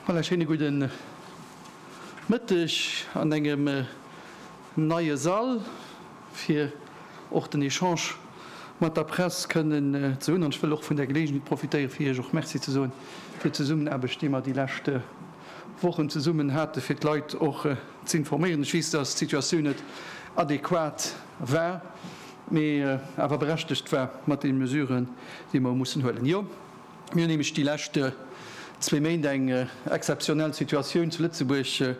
Voilà, schéine gudde Mëtteg an engem neie Sall, fir och den Echange mat der Press kënnen ze hunn. An ech wëll och vun der Geleegenheet profitéiere fir Iech och Merci ze soen fir d'Zesummenaarbecht, déi mer déi leschte. Wochen zesummen hate fir d'Leit och z'informéieren. Ech weess, datt d'Situatioun net adequat war, mee awer berechtegt war mat deene Mesuren, déi mer hu mussen huelen. Jo, mir hunn nämlech déi lescht zwee Méint eng exzeptionell Situatioun zu Lëtzebuerg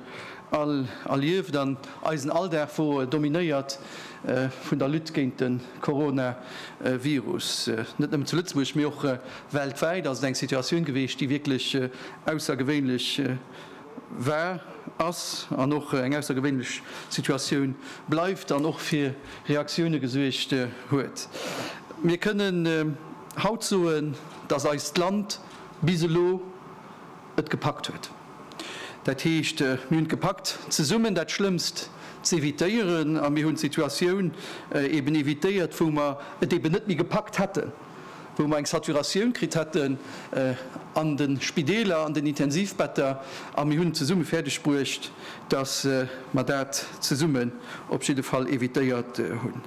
all erlieft an eisen Alldag wor dominéiert vun der Lutte géint de Coronavirus, net nëmmen zu Lëtzebuerg, mee och Weltwäit ass et eng Situatioun geweecht, déi wierklech aussergewéinlech war, ass an och eng aussergewéinlech Situatioun bleift an och fir Reaktioune gesuergt huet. Mir kënnen haut soen, dass eist Land bis elo et gepackt huet. Dat heescht, mir hunn et gepackt, zesummen dat Schlëmmst z'evitéieren a mir hunn d'Situatioun eeben evitéiert, wou mer et eeben net méi gepackt hätten. wou mer eng Saturatioun kritt hätten an de Spideeler, an den Intensivbetter, a mir hunn zesumme fäerdeg bruecht, dass mer dat zesummen op jidde Fall evitéiert hunn.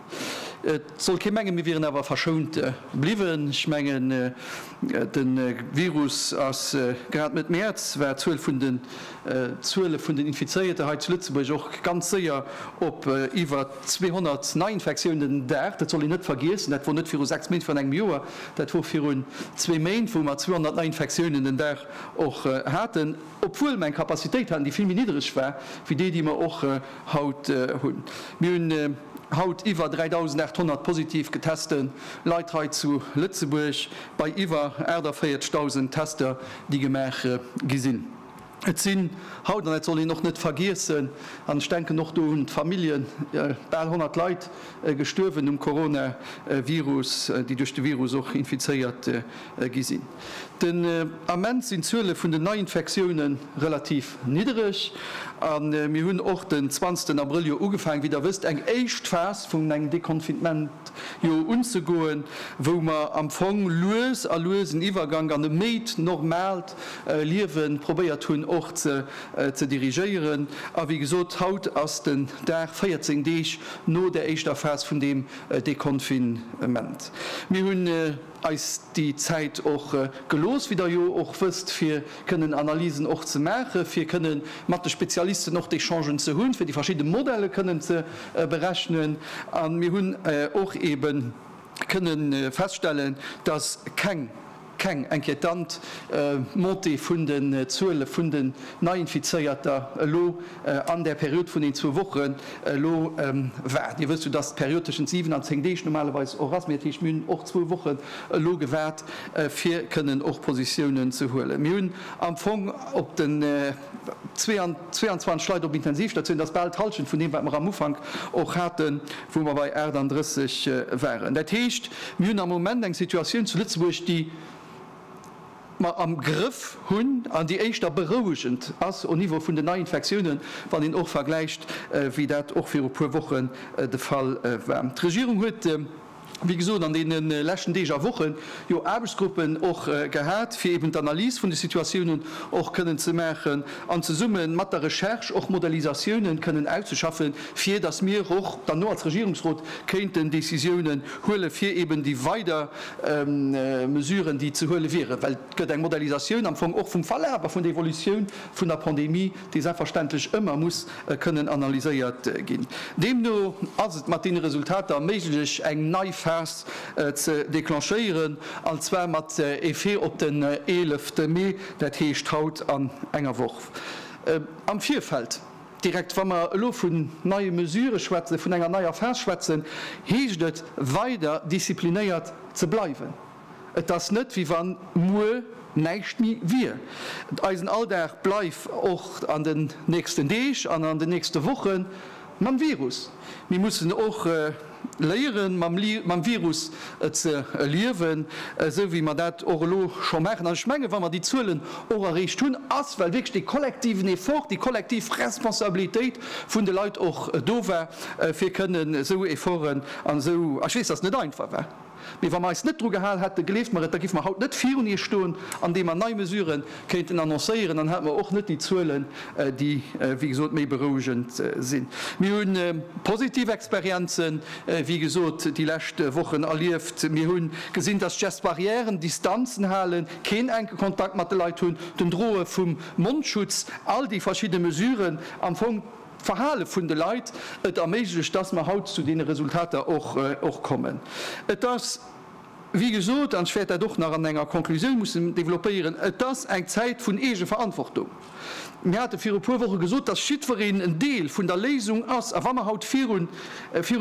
Et soll kee mengen, mir wieren awer verschount bliwwen. Ech mengen, de Virus ass grad Mëtt Mäerz, war d'Zuel vun de D'Zuele vun den Infizéierte hei zu Lëtzebuerg och ganz séier op iwwer 200 Neiinfektiounen den Dag. Dat soll een net vergiessen. Dat wor net viru sechs Méint, virun engem Joer. Dat wor virun zwee Méint, wou mer 200 Neiinfektiounen den Dag och haten, obwuel mer eng Capacitéit haten, déi vill méi niddereg war wéi déi, déi mer och haut hunn. Mir hunn haut iwwer 3.800 positiv geteste Leit hei zu Lëtzebuerg, bei iwwer 48.000 Tester, déi gemaach gi sinn. Et sinn haut, an dat soll een och net vergiessen, an ech denken och do un d'Familljen, bal 100 Leit gestuerwen um Coronavirus, déi duerch de Virus och infizéiert gi sinn. Den Ament sinn d'Zuele vun den Neiinfektioune relativ niddereg a mir hunn och den zwanzegsten Abrëll jo ugefaangen, wéi Der wësst, eng éischt Phas vun engem Deconfinement jo unzegoen, wou mer am Fong lues a lues en Iwwergank an e méi normal Liewen probéiert hunn och ze ze dirigéieren. A wéi gesot, haut ass den Dag 14 Deeg no der éischter Phas vun deem Deconfinement. Mir hunn eis déi Zäit och gelooss, wéi der jo och wësst, fir kënnen Analysen och ze maachen, fir kënne mat de Spezialisten och d'Echangen ze hunn, fir déi verschidde Modelle kënnen ze berechnen. A mir hunn och eeben kënnen feststellen, dass keng Keng inquietant Montée vun den Zuele vun den Neiinfizéierter elo an der Period vun den zwou Wochen elo war. Dir wësst jo, dass d'Period tëschent 7 an 10 Deeg normalerweis och ass, mee et heescht, mir hunn och zwou Wochen elo gewaart, fir kënnen och Positiounen ze huelen. Mir hunn am Fong op de. 22 Leit op Intensivstatioun, dat ass bal d'Hallschent vun deem, wat mer am Ufank och haten, wou mer bei 38 waren. Dat heescht, mir hunn am Moment eng Situatioun zu Lëtzebuerg, déi mer am Grëff hunn an déi éischter berouegend ass au Niveau vun den Neiinfektiounen, wann een och vergläicht, wéi dat och viru puer Wochen de Fall war. D'Regierung huet. wéi gesot, an deene leschten Deeg a Wochen jo Aarbechtsgruppen och gehat, fir eben d'Analys vun de Situatiounen och kënnen ze maachen an zesumme mat der Recherche och Modellisatiounen kënnen auszeschaffen, fir datt mir och dann elo als Regierungsrot kéinten Décisiounen huelen, fir eben déi weider Mesuren, déi ze huele wieren. Well et gëtt eng Modellisatioun am Fong och vum Verlaf a vun der Evolutioun vun der Pandemie. dee selbstverständlech ëmmer muss kënnen analyséiert ginn. Deemno ass et mat deene Resultater méiglech, eng nei Phas ze declenchéieren, an zwar mat Effet op den 11 Mee, dat heescht haut an enger Woch. Am Virfeld, direkt wa mer elo vun neie Mesurë schwätzen, vun enger neier Phas schwätzen, heescht et, weider disziplinéiert ze bleiwen. Et ass net wéi wann muer näischt méi wier. Eisen Alldag bleif och an den nächsten Deeg an an den nächste Woche mam Virus. Mir mussen och léieren, mam Virus ze liewen, esou wéi mer dat och elo scho maachen. An ech mengen, wa mer déi Zuelen och erreecht hunn, ass well wierklech dee kollektiven Effort, déi kollektiv Responsabilitéit vun de Leit och do war, fir kënnen esou Efforten an esou, a ech weess, dass et net einfach war, Mee wa mer eis net dru gehal hätten, gleeft mer et, da giff mer haut net virun Iech stoen, andeem mer nei Mesuren kéinten annoncéieren, dann hätt mer och net déi Zuelen, déi, wéi gesot, méi berouegend sinn. Mir hu positiv Experienzen, wéi gesot, déi lescht Wochen erlieft. Mir hu gesinn, dass d'Gestes barrières, Distanzen halen, keen enke Kontakt mat de Leit hunn, den Droe vum Mondschutz, all déi verschidde Mesuren am Fong, D'Verhale vun de Leit et erméiglecht, dass mer haut zu deene Resultater och kommen. Et ass, wéi gesot, an ech wäert dat och nach an enger Conclusioun mussen developpéieren, et ass eng Zäit vun Eegeverantwortung. Mir hate viru e puer Woche gesot, dass jiddwereen en Deel vun der Léisung ass. A wa mer haut virun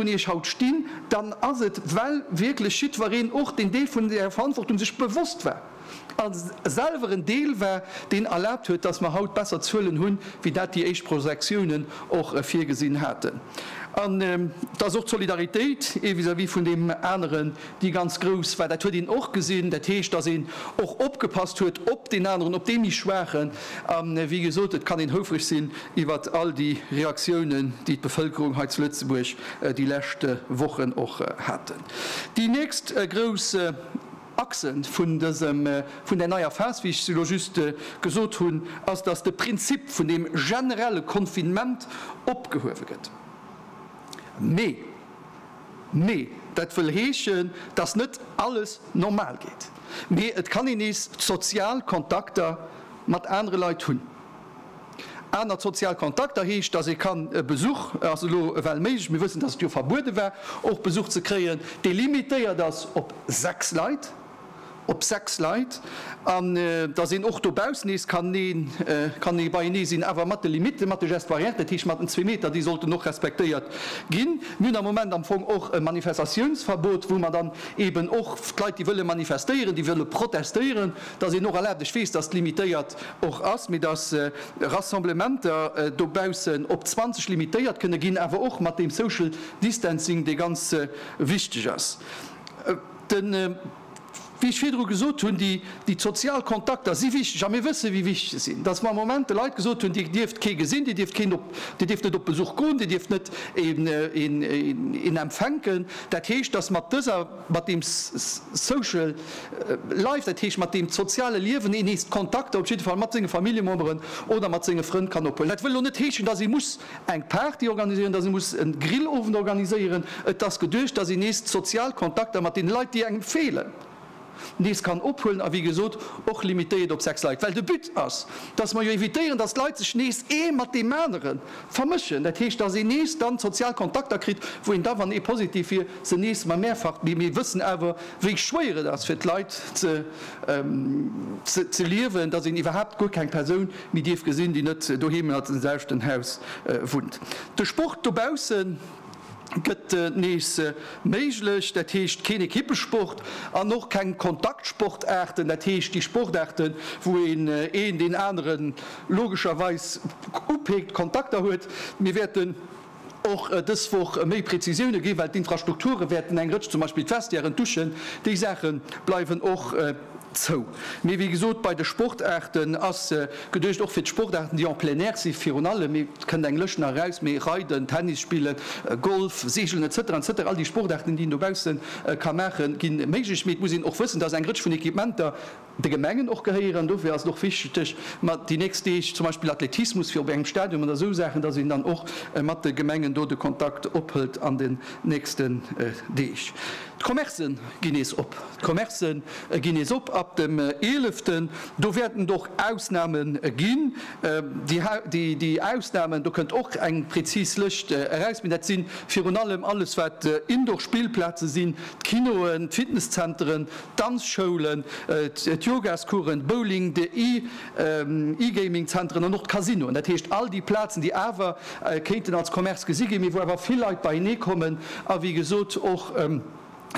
Iech haut stinn, dann ass et, well wierklech jiddwereen och deen Deel vun där Verantwortung sech bewosst war. a selwer en Deel war, deen erlaabt huet, dass mer haut besser Zuelen hunn, wéi dat déi éischt Projektiounen och virgesinn haten. An et ass och d'Solidaritéit vis-à-vis vun deem aneren, déi ganz grouss war. Dat huet een och gesinn. Dat heescht, dass een och opgepasst huet op deen aneren, op dee méi Schwaachen. A wéi gesot, et kann een houfreg sinn iwwer all déi Reaktiounen, déi d'Bevëlkerung hei zu Lëtzebuerg déi lescht Wochen och haten. Déi nächst grouss. Axe vun dësem, vun där neier Phas, wéi ech elo just gesot hunn, ass, dass de Prinzip vun deem generelle Confinement opgehuewe gëtt. Mee, mee dat wëll heeschen, dass net alles normal geet, mee et kann een nees sozial Kontakter mat anere Leit hunn. Aner sozial Kontakter heescht, dass ee kann e Besuch, et ass elo ewell méiglech, mir wëssen, dass et jo verbuede war, och Besuch ze kréien, dee limitéiert ass op sechs Leit, op sechs Leit, an dass een och dobaussen nees kann een, kann ee beienee sinn, awer mat de Limitten, mat de Gestes barrières, dat heescht mat den zwee Meter, déi sollten och respektéiert ginn. Mir hunn am Moment am Fong och e Manifestatiounsverbot, wou mer dann eeben och d'Leit, déi wëlle manifestéieren, déi wëlle protestéieren, Dass een och erlaabt, ech weess, dass et limitéiert och ass, mee dass Rassemblementer dobaussen op 20 limitéiert kënne ginn, awer och mat deem Social Distancing, dee ganz wichteg ass. Den, wéi ech virdru gesot hunn, déi sozial Kontakter si wichteg a mir wësse wéi wichteg se sinn. Dass mer am Moment de Leit gesot hunn, Dir dierft kee gesinn, Dir dierft keen op, Dir dierft net op Besuch goen, Dir dierft net een empfänken. Dat heescht, dass mat dëser. mat deem Social Life, dat heescht mat deem soziale Liewen, een nees d'Kontakter, op jidde Fall mat senge Familljememberen oder mat senge Frënn kann ophuelen. Dat wëll elo net heeschen, dass ee muss eng Party organiséieren, dass ee muss e Grillowend organiséieren. Et ass geduecht, dass een nees d'sozial Kontakter mat deene Leit, déi engem feelen, nees kann ophuelen a wéi gesot och limitéiert op sechs Leit, well de But ass, dass mer jo evitéieren, dass d'Leit sech nees ee mat deem aneren, Vermëschen, dat heescht, dass een nees dann sozial Kontakter kritt, wou een da, wann ee positiv wier, se nees mat mehrfach, mee mir wëssen awer, wéi schwéier et ass fir d'Leit ze liewen, dass een iwwerhaapt guer keng Persoun méi dierf gesinn, déi net doheem an deem selwechten Haus wunnt. De Sport dobaussen. gëtt nees méiglech, dat heescht keen Ekippesport an och keng Kontaktsportaarten, dat heescht déi Sportaarten, wou een een deen anere logescherweis upéckt, Kontakter huet. Mir wäerten och dës Woch méi Präzisioune ginn, well d'Infrastrukture wäerten eng Rëtsch, zum Beispill d'Vestiairen, d'Douchen, déi Saache bleiwen och. Zou. Mee wéi gesot, bei de Sportaarten ass geduecht, och fir d'Sportaarten, déi en plein air si virun allem, et kënnt eng Lëscht nach eraus, mee Reiden, Tennis spillen, Golf, Seegelen, etc. Etc. All déi Sportaarten, déi een dobausse ka maachen, gi méiglech. Mee et muss een och wëssen, dass eng Rëtsch vun Equipementer de Gemengen och gehéieren. An dofir ass et och wichteg, mat déi nächst Deeg zum Beispill Athletismus, fir op engem Stadion oder esou Saachen, dass een dann och mat de Gemengen do de Kontakt ophëlt an den nächsten Deeg. D'Commercen ginn nees op. D'Commercen ginn nees op ab dem Eeleften. Do wäerten et och Ausname ginn. Déi Ausnamen, do kënnt och eng prezis Lëscht eraus, mee dat si virun allem alles wat Indoor-Spillplaze sinn, d'Kinoen, d'Fitnesszenteren, d'Danzschoulen, d'Yogascoursen, d'Bowling, d'E-Gaming-Zenteren an och d'Casinoen. Dat heescht all déi Plazen, déi awer kéinten als Commerce gesi ginn, mee wou awer vill Leit beienee kommen a wéi gesot och,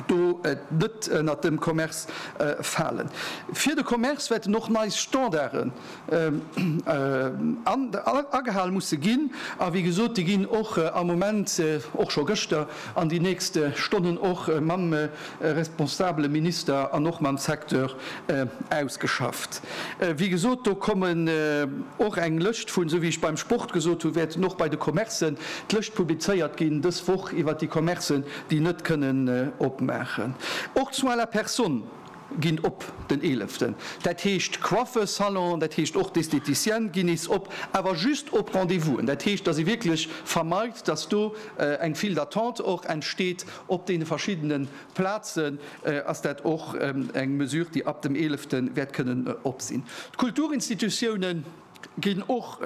do net ënnert dem Commerce falen. Fir de Commerce wäerten och nei Standarden agehal musse ginn. A wéi gesot, déi ginn och am Moment, och scho gëschter, an déi nächst Stonnen och mam responsabele Minister an och mam Secteur ausgeschafft. Wéi gesot, do kommen och eng Lëscht vun, esou wéi ech beim Sport gesot hunn, wäerten och bei de Commercen d'Lëscht publizéiert ginn dës Woch iwwert déi Commercen, déi net kënnen opmaachen. Och d'Soins à la personne ginn op den Eeleften, dat heescht d'Coiffesalon, dat heescht och d'Esthéticienne ginn nees op, awer just op Rendez-vous'en. Dat heescht, datt ee wierklech vermeit, datt do eng File d'attente och entsteet op deene verschiddene Plazen, ass dat och eng Mesure, déi ab dem Eelefte wäert kënnen op sinn. D'Kulturinstitutiounen ginn och.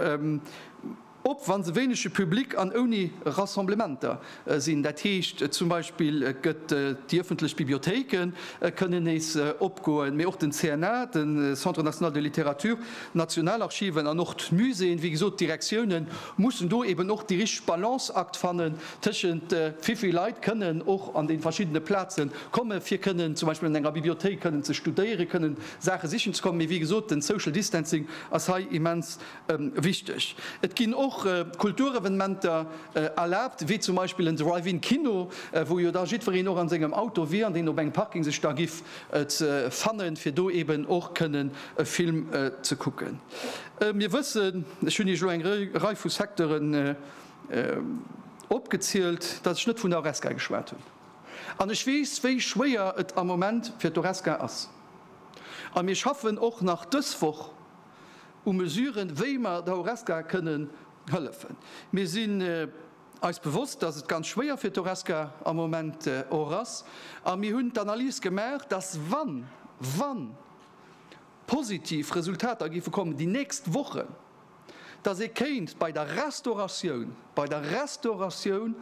Op wann se wéinege Public an ouni Rassemblementer sinn. Dat heescht zum Beispill gëtt déi ëffentlech Bibliothéike kënnen nees opgoen, mee och den CNA, de Centre national de littérature, d'Nationalarchiven an och d'Muséeën. Wéi gesot, d'Direktioune mussen do eben och déi richteg Balance akt fannen tëschent wéi vill Leit kënnen och an déi verschiddene Plaze kommen, fir kënnen zum Beispill an enger Bibliothéik kënnen ze studéieren, kënnen Saache sichen ze kommen. Mee wéi gesot, den social distancing ass hei immens Wichteg, Et ginn och Kulturevenementer erlaabt, wéi zum Beispill en Drive-In Kino, wou jo da jiddwereen och an sengem Auto wier an deen op engem Parking sech da giff fannen, fir do eben och kënnen e Film ze kucken. Mir wëssen, ech hunn Iech elo eng Rei vu Secteuren opgezielt, datt ech net vun der Horesca geschwat hunn. An ech weess, wéi schwéier et am Moment fir d'Horesca ass. A mir schaffen och nach dës Woch u Mesuren, wéi mer der Horesca kënnen hëllefen. Mir sinn eis bewosst, dass et ganz schwéier fir d'Horesca am Moment och ass, a mir hunn d'Analys gemaach, dass wann, wa positiv Resultater géife kommen déi nächst Wochen, dass ee kéint bei der Restauratioun, bei der Restauratioun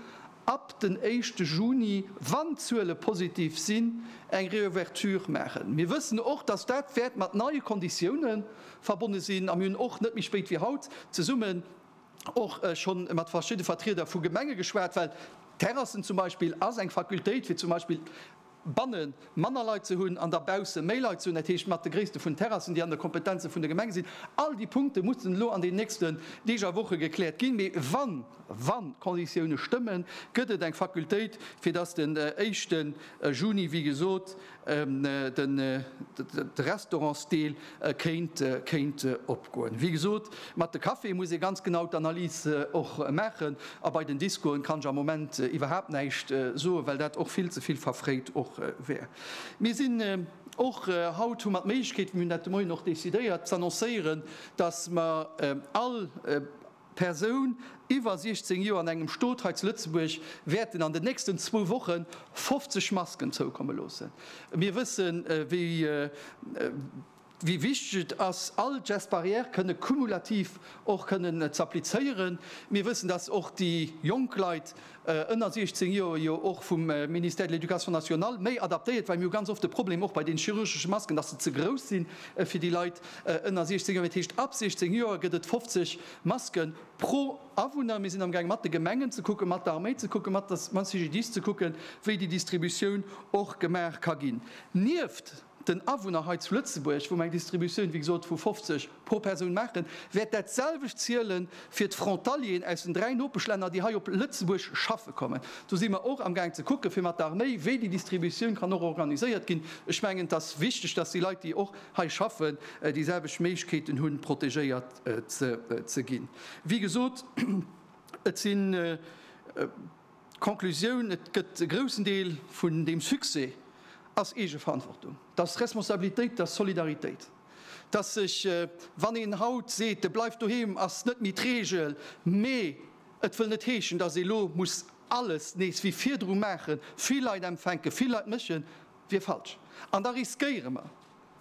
ab den éischte Juni, wann d'Zuele positiv sinn, eng Reouverture maachen. Mir wëssen och, dass dat wäert mat neie Konditiounen verbonne sinn. A mir hunn och net méi spéit wéi haut zesummen och schonn mat verschidde Vertrieder vu Gemenge geschwat, well Terrassen zum Beispill ass eng Fakultéit, fir zum Beispill banne manner Leit ze hunn an da bausse méi Leit ze hunn, dat heescht mat de Gréisste vun Terrassen, déi an de Kompetenze vun de Gemenge sinn. All déi Punkte mussen elo an den nächsten Deeg a Woche gekläert ginn. Mee wann, wa Konditioune stëmmen, gëtt et eng Fakultéit, fir dass den éischte Juni, wéi gesot, de Restaurantsdeel E kéint, kéint opgoen. Wéi gesot, mat de Caféë muss ee ganz genau d'Analys och maachen. A bei den Discoen kann ech am Moment iwwerhaapt näischt soen, well dat och vill ze vill verfréit och wär. Mir sinn och, haut hu mer d'Méiglechkeet, mir hunn dat de Moien och decidéiert, z'annoncéieren, datt mer all, Persoun iwwer 16 Joer an engem Stot hei zu Lëtzebuerg wäerten an den nächsten zwou Woche 50 Masken zoukomme loossen. Mir wëssen, wéi wichteg et ass, all d'Gestes barrières kënne kumulativ och kënnen z'applizéieren. Mir wëssen, dass och déi jonk Leit ënner 16 Joer jo och vum Ministère de l'Éducation nationale méi adaptéiert, well mir hu ganz oft de Problem och bei den chirurgesche Masken, dass se ze grouss sinn fir déi Leit ënner 16 Joer. Dat heescht, ab 16 Joer gëtt et 50 Maske pro Awunner. Mir sinn amgaang mat de Gemengen ze kucken, mat der Arméi ze kucken, mat der CGDIS ze kucken, wéi déi Distributioun och gemaach ka ginn. Nieft den Awunner hei zu Lëtzebuerg, wou mer eng Distributioun, wéi gesot, vu 50 pro Persoun maachen, wäert dat selwecht ziele fir d'Frontalieren aus den dräi Nopeschlänner, déi hei op Lëtzebuerg schaffe kommen. Do si mer och amgaang ze kucken, fir mat der Arméi, wéi déi Distributioun kann och organiséiert ginn. Ech mengen, et ass wichteg, dass déi Leit, déi och hei schaffen, déi selwecht Méiglechkeeten hunn, protegéiert ze ginn. Wéi gesot, et sinn, D'Conclusioun, Et gëtt e groussen Deel vun deem Succès ass Eegeverantwortung, dass Responsabilitéit, dass Solidaritéit, dass sech, wann een haut seet, e bleift doheem, ass net méi d'Regel, mä et wëll net heeschen, dass ee lo muss alles nees wéi virdru maachen, vill Leit empfänken, vill Leit méchen, wier falsch. An da riskéiere mer,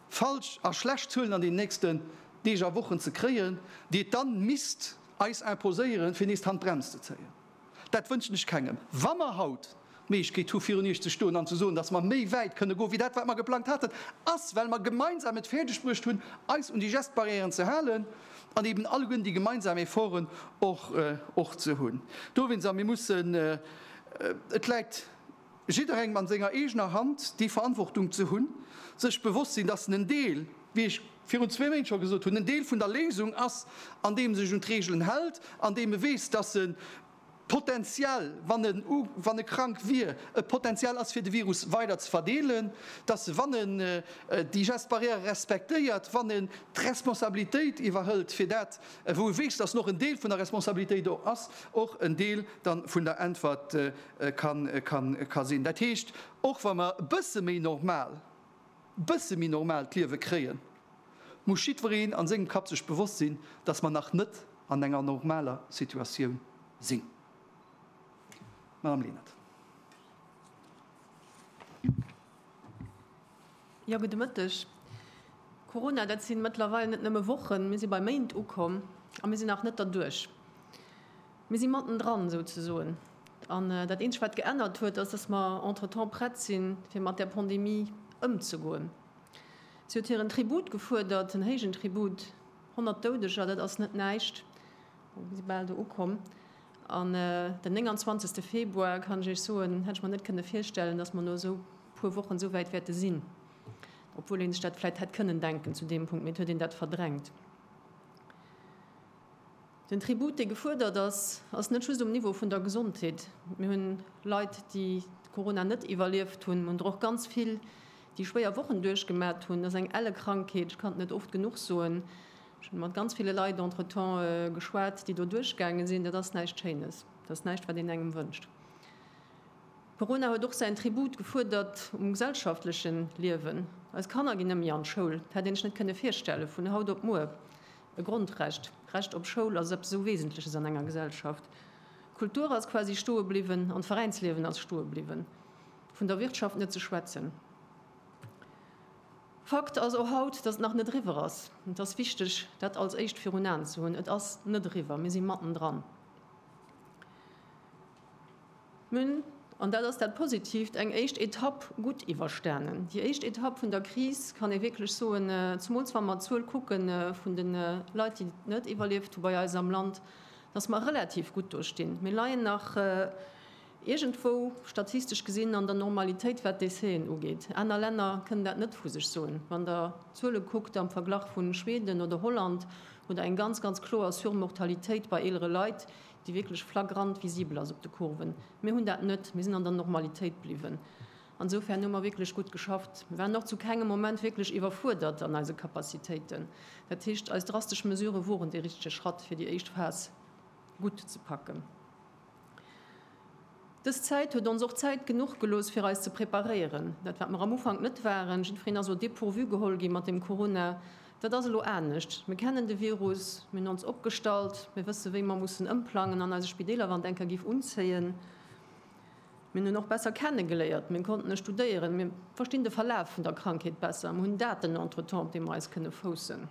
falsch a schlecht Zuelen an den nächsten Deeg a Wochen ze kréien, déi et dann misst eis imposéieren, fir nees d'Handbrems ze zéien. Dat wënschen ech kengem. Wa mer haut d'Méiglechkeet hu virun Iech ze stoen an ze soen, datt mer méi wäit kënne goen, wéi dat wat mer geplangt haten, ass well mer gemeinsam et fäerdeg bruecht hunn, eis un déi Gestbarrièren ze halen an eben alleguerten déi gemeinsam Efforten och och ze hunn dowéinst. A mir mussen, et läit Jidderengem an senger eegener Hand déi Verantwortung ze hunn, sech bewosst sinn, dass en en Deel, wéi ech virun zwee Méint scho gesot hunn, en Deel vun der Léisung ass, andeem e sech un d'Reegelen hält, andeem e weess, dass e potenziell, wann en, wann e krank wier, e Potenzial ass fir de Virus weider ze verdeelen, dass e, wann en déi Gestes barrières respektéiert, wann en d'Responsabilitéit iwwerhëlt fir dat, wou e weess, dass en och en Deel vun der Responsabilitéit och ass, och en Deel da vun der Äntwert ka sinn. Dat heescht, och wa mer e bësse méi normal, e bësse méi normaalt Liewe kréien, muss jiddwereen a sengem Kapp sech bewosst sinn, dass mer nach net an enger normaler Situatioun sinn. Madame Lenert. Jo, gudde Mëtteg. Corona, dat si mëttlerweil net nëmme Wochen, mir si bei Méint ukomm a mir sinn nach net derduerch. Mir si mattendran, esou ze soen. An dat Eenzegt, wat geännert huet, ass, dass mer entretemps prett sinn, fir mat där Pandemie ëmzegoen. Si huet hiren Tribut gefuerdert, en héijen Tribut. Honnert Doudeger, dat ass net näischt. Bon, mir si bal do ukomm. An den 29. Februar, kann ech Iech soen, hätt ech mer net kënne virstellen, dass mer no esou puer Wochen esou wäit wäerte sinn. Obwuel ee sech dat vläicht hätt kënnen denken zu deem Punkt, mee et huet een dat verdrängt. Den Tribut, dee gefuerdert ass, ass net just um Niveau vun der Gesondheet. Mir hunn Leit, déi Corona net iwwerlieft hunn. Mir hunn der och ganz vill, déi schwéier Wochen duerchgemat hunn. Et ass eng elle Krankheet, ech kann et net oft genuch soen. Ech hu mat ganz ville Leit entretemps geschwat, déi do duerchgaange sinn. Dat ass näischt Schéines. Dat ass näischt, wat een engem wënscht. Corona huet och säin Tribut gefuerdert um gesellschaftleche Liewen. Eis Kanner ginn net méi an d'Schoul. Dat hätt een sech net kënne virstellen, vun haut op muer. E Grondrecht, d'Recht op Schoul, ass eppes esou Wesentleches an enger Gesellschaft. D'Kultur ass quasi stoe bliwwen an d'Veräinsliewen ass stoe bliwwen, vun der Wirtschaft net ze schwätzen. Fakt ass och haut, datt et nach net eriwwer ass. Et ass wichteg, dat als éischt virun Aen ze hunn. Et ass net eriwwer, mir si matten dran. Mir hunn, an dat ass dat Positiivt, eng éischt Etapp gutt iwwerstanen. Déi éischt Etapp vun der Kris kann ee wierklech soen, zemools wa mer d'Zuel kucke vun de Leit, déi et net iwwerlieft hu bei eis am Land, dass mer relativ gutt do stinn. Mir leien nach iergendwou, statistesch gesinn, an der Normalitéit, wat Décèsen ugeet. Aner Länner kënnen dat net vu sech soen. Wann Der d'Zuele kuckt am Verglach vu Schweden oder Holland, hutt Der eng ganz, ganz kloer Surmortalitéit bei eelere Leit, déi wierklech flagrant visibel ass op de Kurven, mir hunn dat net, mir sinn an der Normalitéit bliwwen. Ansofern hu mer wierklech gutt geschafft. Mir waren och zu kengem Moment wierklech iwwerfuerdert an eise Capacitéiten. Dat heescht, eis drastesch Mesurë woren dee richtege Schratt, fir déi éischt Phas gutt ze packen. Dës Zäit huet ons och Zäit genuch gelooss fir eis ze preparéieren. Dat wat mer am Ufank net waren, jiddfereen ass au dépourvu geholl ginn mat dem Corona, dat ass elo anescht. Mir kennen de Virus, mir hunn ons opgestallt, mir wësse wéi mer mussen ëmplangen an eise Spideeler, wann et eng Kéier géif unzéien. Mir hunn och besser kenne geléiert, mir konnten e studéieren, mir verstinn de Verlaf vun der Krankheet besser, mir hunn Daten entretemps op deem mer eis kënne foussen.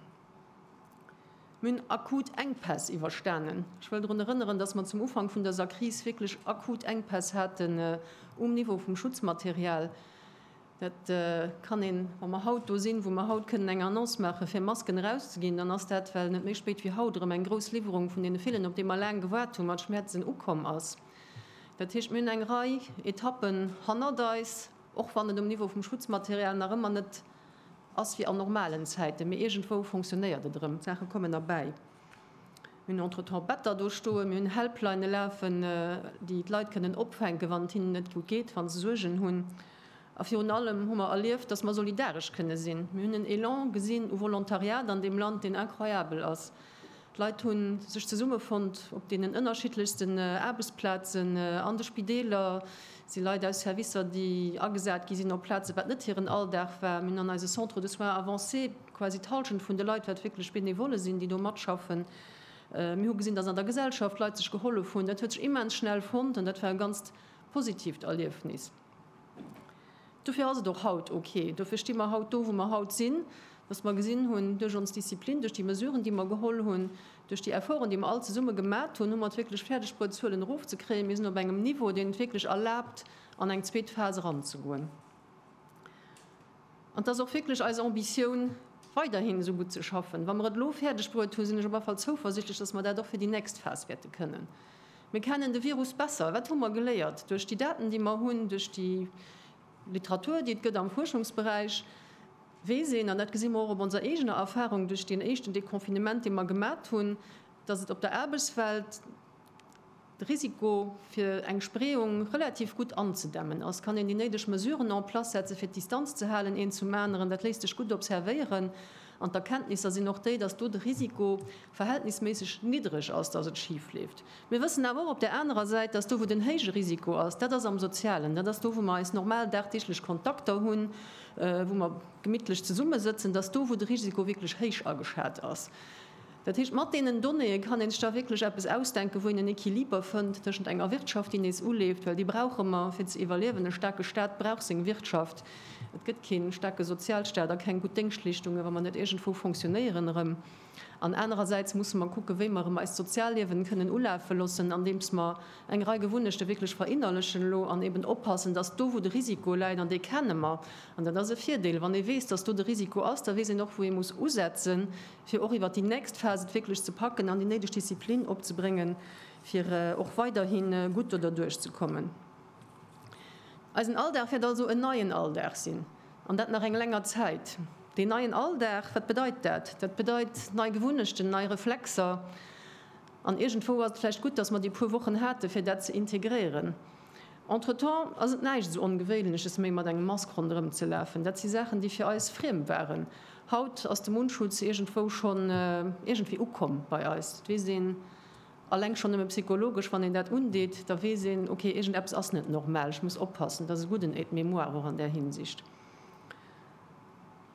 Mir hunn akut Enkpäss iwwerstanen. Ech wëll drun erënneren, dass mer zum Ufank vun dëser Kris wierklech akut Enkpäss haten um Niveau vum Schutzmaterial. Dat kann een, wa mer haut do sinn, wou mer haut kënnen eng Annonce maachen, fir Masken erauszeginn, dann ass dat, well net méi spéit wéi haut erëm eng grouss Liwwerung vun deene villen, op déi mer laang gewaart hu mat Schmerzen, ukomm ass. Dat heescht, mir hunn eng Rei Etappen hannert eis, och wann et um Niveau vum Schutzmaterial nach ëmmer net, Ass wéi an normalen Zäiten, mee iergendwou fonctionnéiert et erëm, d'Saache kommen erbäi. Mir hunn entretemps Better do stoen, mir hunn Helplinne lafen, déi d'Leit kënnen opfänken, wann et hinnen net gutt geet, wa se Suergen hunn. A virun allem hu mer erlieft, dass mer solidaresch kënne sinn. Mir hunn en Elan gesinn u Volontariat an deem Land, deen incroyabel ass. D'Leit hu sech zesummefonnt op deenen ënnerschiddlechsten Aarbechtsplazen, an de Spideeler si Leit aus Servicer, déi agesat gi sinn op Plazen, wat net hiren Alldag war, an eise Centres de soins avancés, quasi d'Hallschent vun de Leit, wat wierklech Benevolle sinn, déi do matschaffen. Mir hu gesinn, dass an der Gesellschaft d'Leit sech gehollef hunn. Dat huet sech immens schnell fonnt an dat war e ganzt positiivt Erliefnis. Dofir ass et och haut ok. Dofir sti mer haut do, wou mer haut sinn, datt mer gesinn hunn, duerch ons Disziplin, duerch déi Mesuren, déi mer geholl hunn, duerch déi Efforten, déi mer all zesumme gemat hunn, hu mer et wierklech fäerdeg bruet, d'Zuelen erofzekréien. Mir sinn op engem Niveau, deen et wierklech erlaabt, an eng zweet Phas eranzegoen. An et ass och wierklech eis Ambitioun, weiderhin esou gutt ze schaffen. Wa mer et elo fäerdegbruet hunn, sinn ech op alle Fall zouversichtlech, dass mer dat och fir déi nächst Phas wäerte kënnen. Mir kennen de Virus besser. Wat hu mer geléiert duerch déi Daten, déi mer hunn, duerch déi Literatur, déi et gëtt am Fuerschungsberäich, weess een, an dat gesi mer och op onser eegener Erfahrung duerch deen éischten Deconfinement, dee mer gemat hunn, dass et op der Aarbechtswelt, de Risiko fir eng Spreeung relativ gutt anzedämmen ass, kann een déi néideg Mesuren en place setze fir d'Distanz ze halen een zum aneren. Dat léisst sech gutt observéieren an d'Erkenntnisser sinn och déi, datt do de Risiko verhältnisméisseg niddreg ass, datt et schif leeft. Mir wëssen awer och op där anerer Säit, datt do wou den héije Risiko ass, dat ass am Sozialen, dat ass do wou mer eis normal dagdeeglech Kontakter hunn, wou mer gemittlech zesummesëtzen, datt do wou de Risiko wierklech héich ageschat ass. Dat heescht, mat deenen Donnéeë kann een sech da wierklech eppes ausdenken, wou een en Equiliber fënnt tëschent enger Wirtschaft, déi nees uleeft, well déi brauche mer, fir ze iwwerliewen. E staarke Stat brauch seng Wirtschaft. Et gëtt kee staarke Sozialstat a keng gutt Déngschtleeschtungen, wa mer net iergendwou fonctionnéieren erëm. An anerersäits musse mer kucken, wéi mer erëm eist Sozialliewen kënnen ulafe loossen, andeems mer eng Rei Gewunnechte wierklech verinnerlechen elo an eben oppassen, dass do, wou de Risiko läit, an dee kenne mer, an dat ass e Virdeel, wann ee weess, dass do de Risiko ass, da weess een och, wou ee muss usetzen, fir och iwwert déi nächst Phas et wierklech ze packen an déi néideg Disziplin opzebréngen, fir och weiderhi gutt do derduerch ze kommen. Eisen Alldag wäert also en neien Alldag sinn, an dat nach eng länger Zäit. Deen neien Alldag, wat bedeit dat? Dat bedeit nei Gewunnechten, nei Reflexer. An iergendwou ass et vläicht gutt, datt mer déi puer Wochen hate fir dat ze integréieren. Entretemps ass et näischt esou Ongewéinleches méi mat engem Mask ronderëm ze lafen. Dat si Saachen, déi fir eis friem waren. Haut ass de Mundschutz iergendwou schonn iergendwéi ukomm bei eis. Dat weess een alleng schonn nëmme psychologesch, wann een dat undeet, da weess een, ok, iergendeppes ass net normal, ech muss oppassen. Et ass e gudden Aide-mémoire och an där Hinsicht.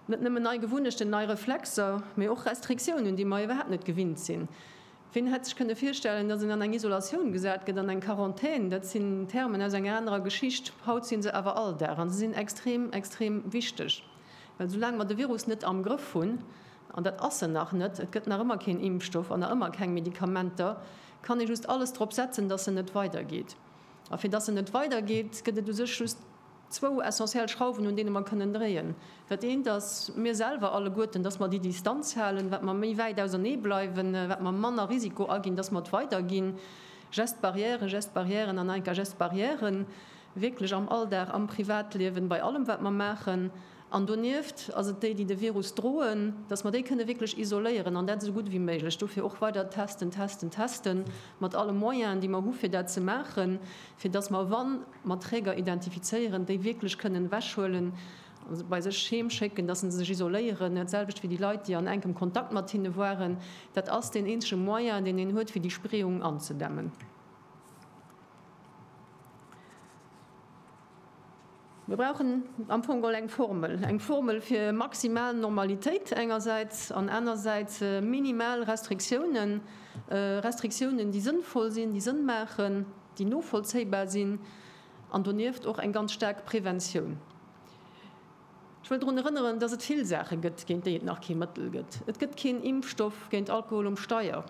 Net nëmmen nei Gewunnechten, nei Reflexer, mee och Restriktiounen, déi mer iwwerhaapt net gewinnt sinn. Wien hätt sech kënne virstellen, datt een an eng Isolatioun gesat gëtt, an eng Quarantän? Dat sinn Termen aus enger anerer Geschicht. Haut si se awer Alldag a se sinn extrem, extrem wichteg. Well soulaang mer de Virus net am Grëff hunn, an dat ass en nach net, et gëtt nach ëmmer keen Impfstoff an nach ëmmer keng Medikamenter, kann ee just alles drop setzen, datt en net weidergeet. A fir datt en net weidergeet, gëtt et u sech just. Zwou essentiell Schrauwen, un deene mer kënnen dréien. Dat eent ass mir selwer alleguerten, dass mer déi Distanz halen. Wat mer méi wäit ausernee bleiwen, wat mer manner Risiko aginn, dass mer et weiderginn. Gestes barrières, gestes barrières an enka gestes barrières, wierklech am Alldag, am Privatliewen, bei allem wat mer maachen. An donieft ass et déi, déi de Virus droen, dass mer déi kënne wierklech isoléieren an dat esou gutt wéi méiglech. Dofir och weider testen, testen, testen, mat alle Moyenen, déi mer hu fir dat ze maachen, fir dass mer, wann. mat Träger identifizéieren, déi wierklech kënnen ewechhuelen, se bei sech heem schécken, dass se sech isoléieren, dat selwecht wéi déi Leit, déi an enkem Kontakt mat hinne waren. Dat ass deen eenzege Moyen, deen een huet, fir déi Spreeung anzedämmen. Mir brauchen am Fong all eng Formel, eng Formel fir maximal Normalitéit engersäits an anersäits minimal Restriktiounen, Restriktiounen, déi sënnvoll sinn, déi Sënn maachen. déi novollzéibar sinn, an donieft och eng ganz staark Preventioun. Ech wëll drun erënneren, dass et vill Saache gëtt, géint déi et nach kee Mëttel gëtt. Et gëtt keen Impfstoff géint Alkohol um Steier,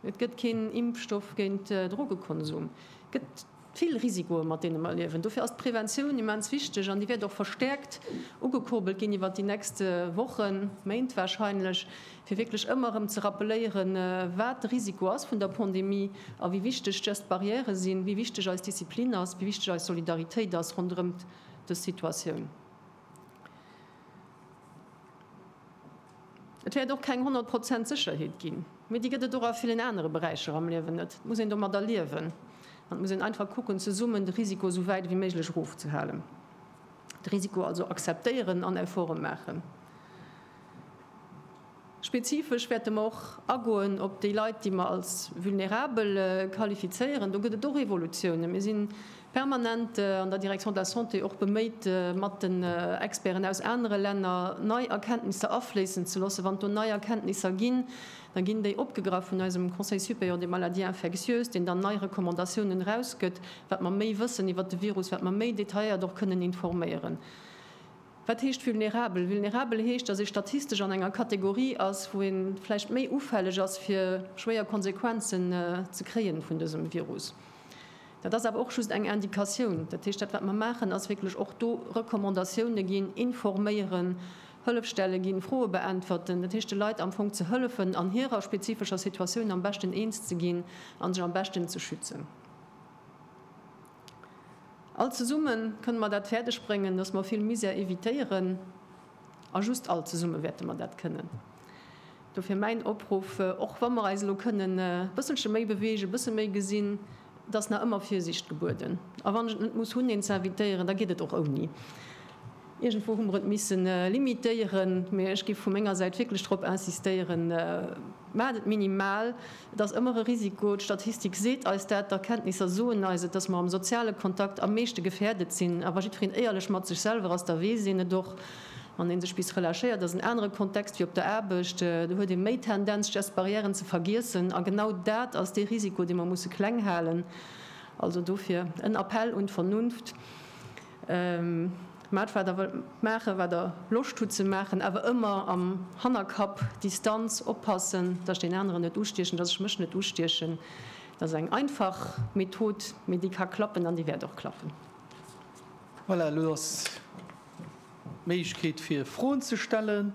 et gëtt keen Impfstoff géint Drogekonsum. Et gëtt vill Risikoe mat deene mer liewen. Dofir ass d'Preventioun immens wichteg, an déi wäert och verstäerkt ugekurbelt ginn iwwer déi nächste Wochen, Méint warscheinlech. fir wierklech ëmmer erëm ze rappeléieren, wat de Risiko ass vun der Pandemie a wéi wichteg dës Barrièrë sinn, wéi wichteg eis Disziplin ass, wéi wichteg eis Solidaritéit ass ronderëm dës Situatioun. Et wäert och keng 100 Prozent Sécherheet ginn, mee déi gëtt et och a villen anere Beräicher am Liewen net. Et muss een domadder liewen an et muss een einfach kucken, zesummen de Risiko esou wäit ewéi méiglech erofzehalen, de Risiko also akzeptéieren an Efforte maachen. Spezifesch wäerte mer och agoen op déi Leit, déi mer als vulnérabel qualifizéieren. Do gëtt et och Evolutiounen. Mir si permanent an der Direction de la Santé och beméit, mat den Experten aus anere Länner nei Erkenntnisser afléissen ze loossen. Wann do nei Erkenntnisser ginn, da ginn déi opgegraff vun eisem Conseil supérieur des maladies infectieuses, deen dann nei Recommandatiounen erausgëtt, wat mer méi wëssen iwwert de Virus, wat mer méi detailléiert och kënnen informéieren. Wat heescht vulnerabel? Vulnerabel heescht, datt ee statistesch an enger Kategorie ass, wou ee vläicht méi ufälleg ass, fir schwéier Konsequenzen ze kréien vun dësem Virus. Dat ass awer och just eng Indikatioun. Dat heescht, dat wat mer maachen, ass wierklech och do Recommandatioune ginn, informéieren, Hëllefstelle ginn, Froe beäntwerten. Dat heescht, de Leit am Fong ze hëllefen, an hirer spezifescher Situatioun am beschten eens ze ginn a sech am beschten ze schützen. All zesumme kënne mer dat fäerdeg bréngen, dass mer vill Misär evitéieren. A just all zesumme wäerte mer dat kënnen. Dofir mäin Opruff, Och wa mer eis elo kënnen e bësselche méi beweegen, e bësse méi gesinn, et ass nach ëmmer Virsiicht gebueden. A wann ech et net muss hunn, een ze invitéieren, da geet et och ouni. Iergendwou hu mer et misse limitéieren, mä ech géif vu menger Säit wierklech drop insistéieren, Maacht et minimal! Et ass ëmmer e Risiko, d'Statistik seet eis dat, d'Erkenntnisser soen eis et, dass mer am soziale Kontakt am meeschte gefährdet sinn. A wa jiddwereen éierlech mat sech selwer ass, da weess een et och. Wann ee sech bis relâchéiert, ass en anere Kontext wéi op der Aarbecht. Do huet ee méi Tendenz, just Barrièren ze vergiessen. A genau dat ass dee Risiko, dee mer musse kleng halen. Also dofir en Appell un d'Vernunft. Maacht wat der wëllt maachen, wat der Loscht hutt ze maachen, awer ëmmer am Hannerkapp, Distanz, oppassen, datt ech deen aneren net ustiechen, datt ech mech net ustiechen. Dat ass eng einfach Method, mee déi ka klappen an déi wäert och klappen. Voilà, elo ass d'Méiglechkeet fir Froen ze stellen.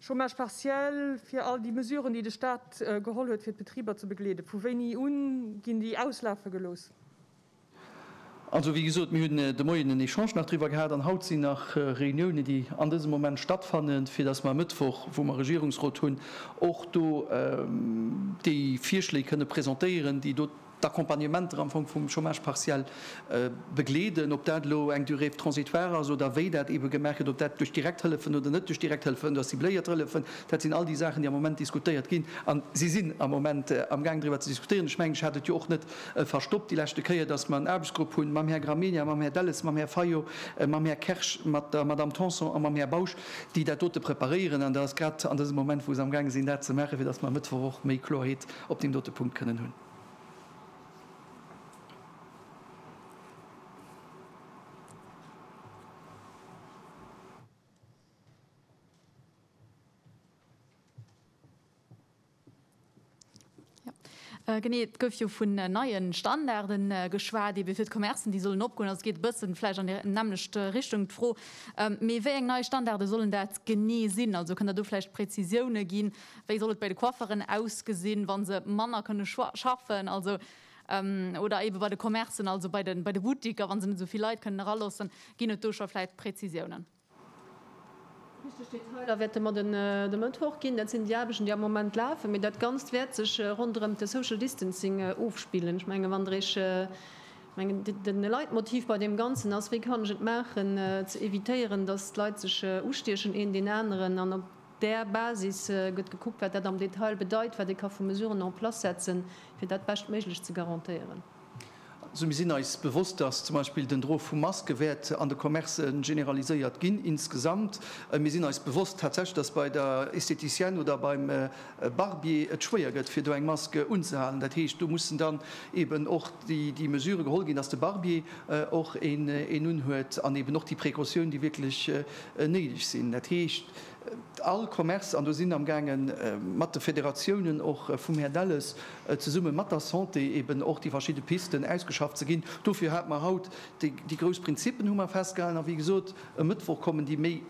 Chômage partiel, fir all déi Mesuren, déi de Stat geholl huet, fir d'Betriber ze begleeden, vu wéini un ginn déi auslafe gelooss? Also, wéi gesot, mir hunn de Moien en Echange nach driwwer gehat an haut sinn nach Reuniounen, déi an dësem Moment stattfannen, fir datt mer e Mëttwoch, wou mer Regierungsrot hunn, och do déi Virschléi kënne presentéieren, déi do d'Accompagnementer am Fong vum Chômage partiel begleeden, ob dat elo eng Durée transitoire ass oder wéi dat eebe gemaach gëtt, ob dat duerch direkt Hëllefen oder net duerch direkt Hëllefen oder cibléiert Hëllefen, dat sinn all déi Saachen, déi am Moment diskutéiert ginn a si sinn am Moment amgaang driwwer ze diskutieren. Ech mengen, ech hat et jo och net verstoppt déi leschte Kéier, dass mer en Aarbechtsgrupp hunn, mam Här Gramegna, mam Här Delles, mam Här Fayot, mam Här Kersch, mat der Madame Tanson a mam Här Bausch, déi dat dote preparéieren an dat ass grad an dësem Moment, wou se amgaange sinn, dat ze maachen, fir dass mer e Mëttwoch och méi Kloerheet op deem dote Punkt kënnen hunn. Genee, et gouf jo vun neie Standarde geschwat, ebe fir d'Commercen, déi sollen opgoen. Also et geet e bësse vläicht an déi nämmlecht Richtung, d'Fro. Mee wéi eng nei Standarde sollen dat genee sinn? Also kënnt Der do vläicht Prezisioune ginn? Wéi soll et bei de Coifferen ausgesinn, wa se manner kënne schaffen, also, oder eebe bei de Commercen, also bei de Bouticker, wa se net esou vill Leit kënnen eraloossen? Ginn et do scho vläicht Prezisiounen? Richteg Detailer wäerte mer de Mëttwoch ginn. Dat sinn déi Aarbechten, déi am Moment lafen. Mee dat Ganzt wäert sech ronderëm de Social Distancing ofspillen. Ech mengen, wann Der Iech, ech mengen, de Leitmotiv bei deem Ganzen ass, wéi kann ech et maachen, ze evitéieren, datt d'Leit sech ustiechen, een deen aneren, an op. Där Basis gëtt gekuckt, wat dat am Detail bedeit, wat ee ka vu Mesuren en place setzen, fir dat Beschtméiglech ze garantéieren. Also mir sinn eis bewosst, dass zum Beispill den Droe vu Maske wäert an de Commercë generaliséiert ginn insgesamt. Mir sinn eis bewosst tatsächlech, dass bei der Estheticienne oder beim Barbier et schwéier gëtt, fir do eng Mask unzehalen. Dat heescht, do mussen dann eeben och déi Mesurë geholl ginn, dass de Barbier och een unhuet an eeben och déi Precautioun, déi wierklech néideg sinn. Dat heescht. All Commerce, an do sinn am gaange mat de Federatiounen och vum Här Delles, zesumme mat der Santé eeben och déi verschidde Pisten ausgeschafft ze ginn. Dofir hate mer haut déi grouss Prinzippen hu mer festgehalen. A wéi gesot, e Mëttwoch kommen déi méi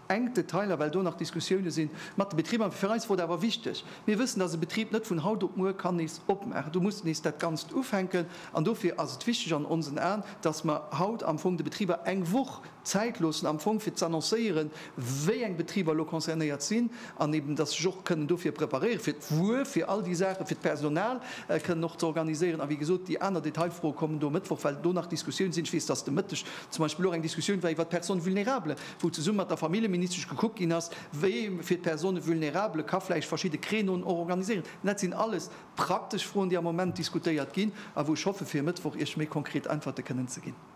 enk Detailer, well do nach Diskussioune sinn mat de Betriber. Fir eis wor et awer wichteg, mir wëssen, dass e Betrib net vun haut op muer kann nees opmaachen. Do muss nees dat Ganzt ufänken. An dofir ass et wichteg an onsen Aen, dass mer haut am Fong de Betriber eng Woch Zäit loossen am Fong, fir z'annoncéieren, wéi eng Betriber elo concernéiert sinn an eeben, dass sech och kënnen dofir preparéieren, fir d'Wuer, fir all déi Saachen, fir d'Personal kënnen och ze organiséieren. A wéi gesot, déi aner Detailfroe kommen do e Mëttwoch, well do nach Diskussioun sinn. Ech weess, dass de Mëtteg zum Beispill och eng Diskussioun war iwwert d'Personnes vulnérables, wou zesumme mat der Familljeministesch gekuckt ginn ass, wéi ee fir d'Personnes vulnérables ka vläicht verschidde Créneauen och organiséieren. Mä dat sinn alles praktesch Froen, déi am Moment diskutéiert ginn a wou ech hoffe, fir e Mëttwoch Iech méi konkret Äntwerte kënnen ze ginn.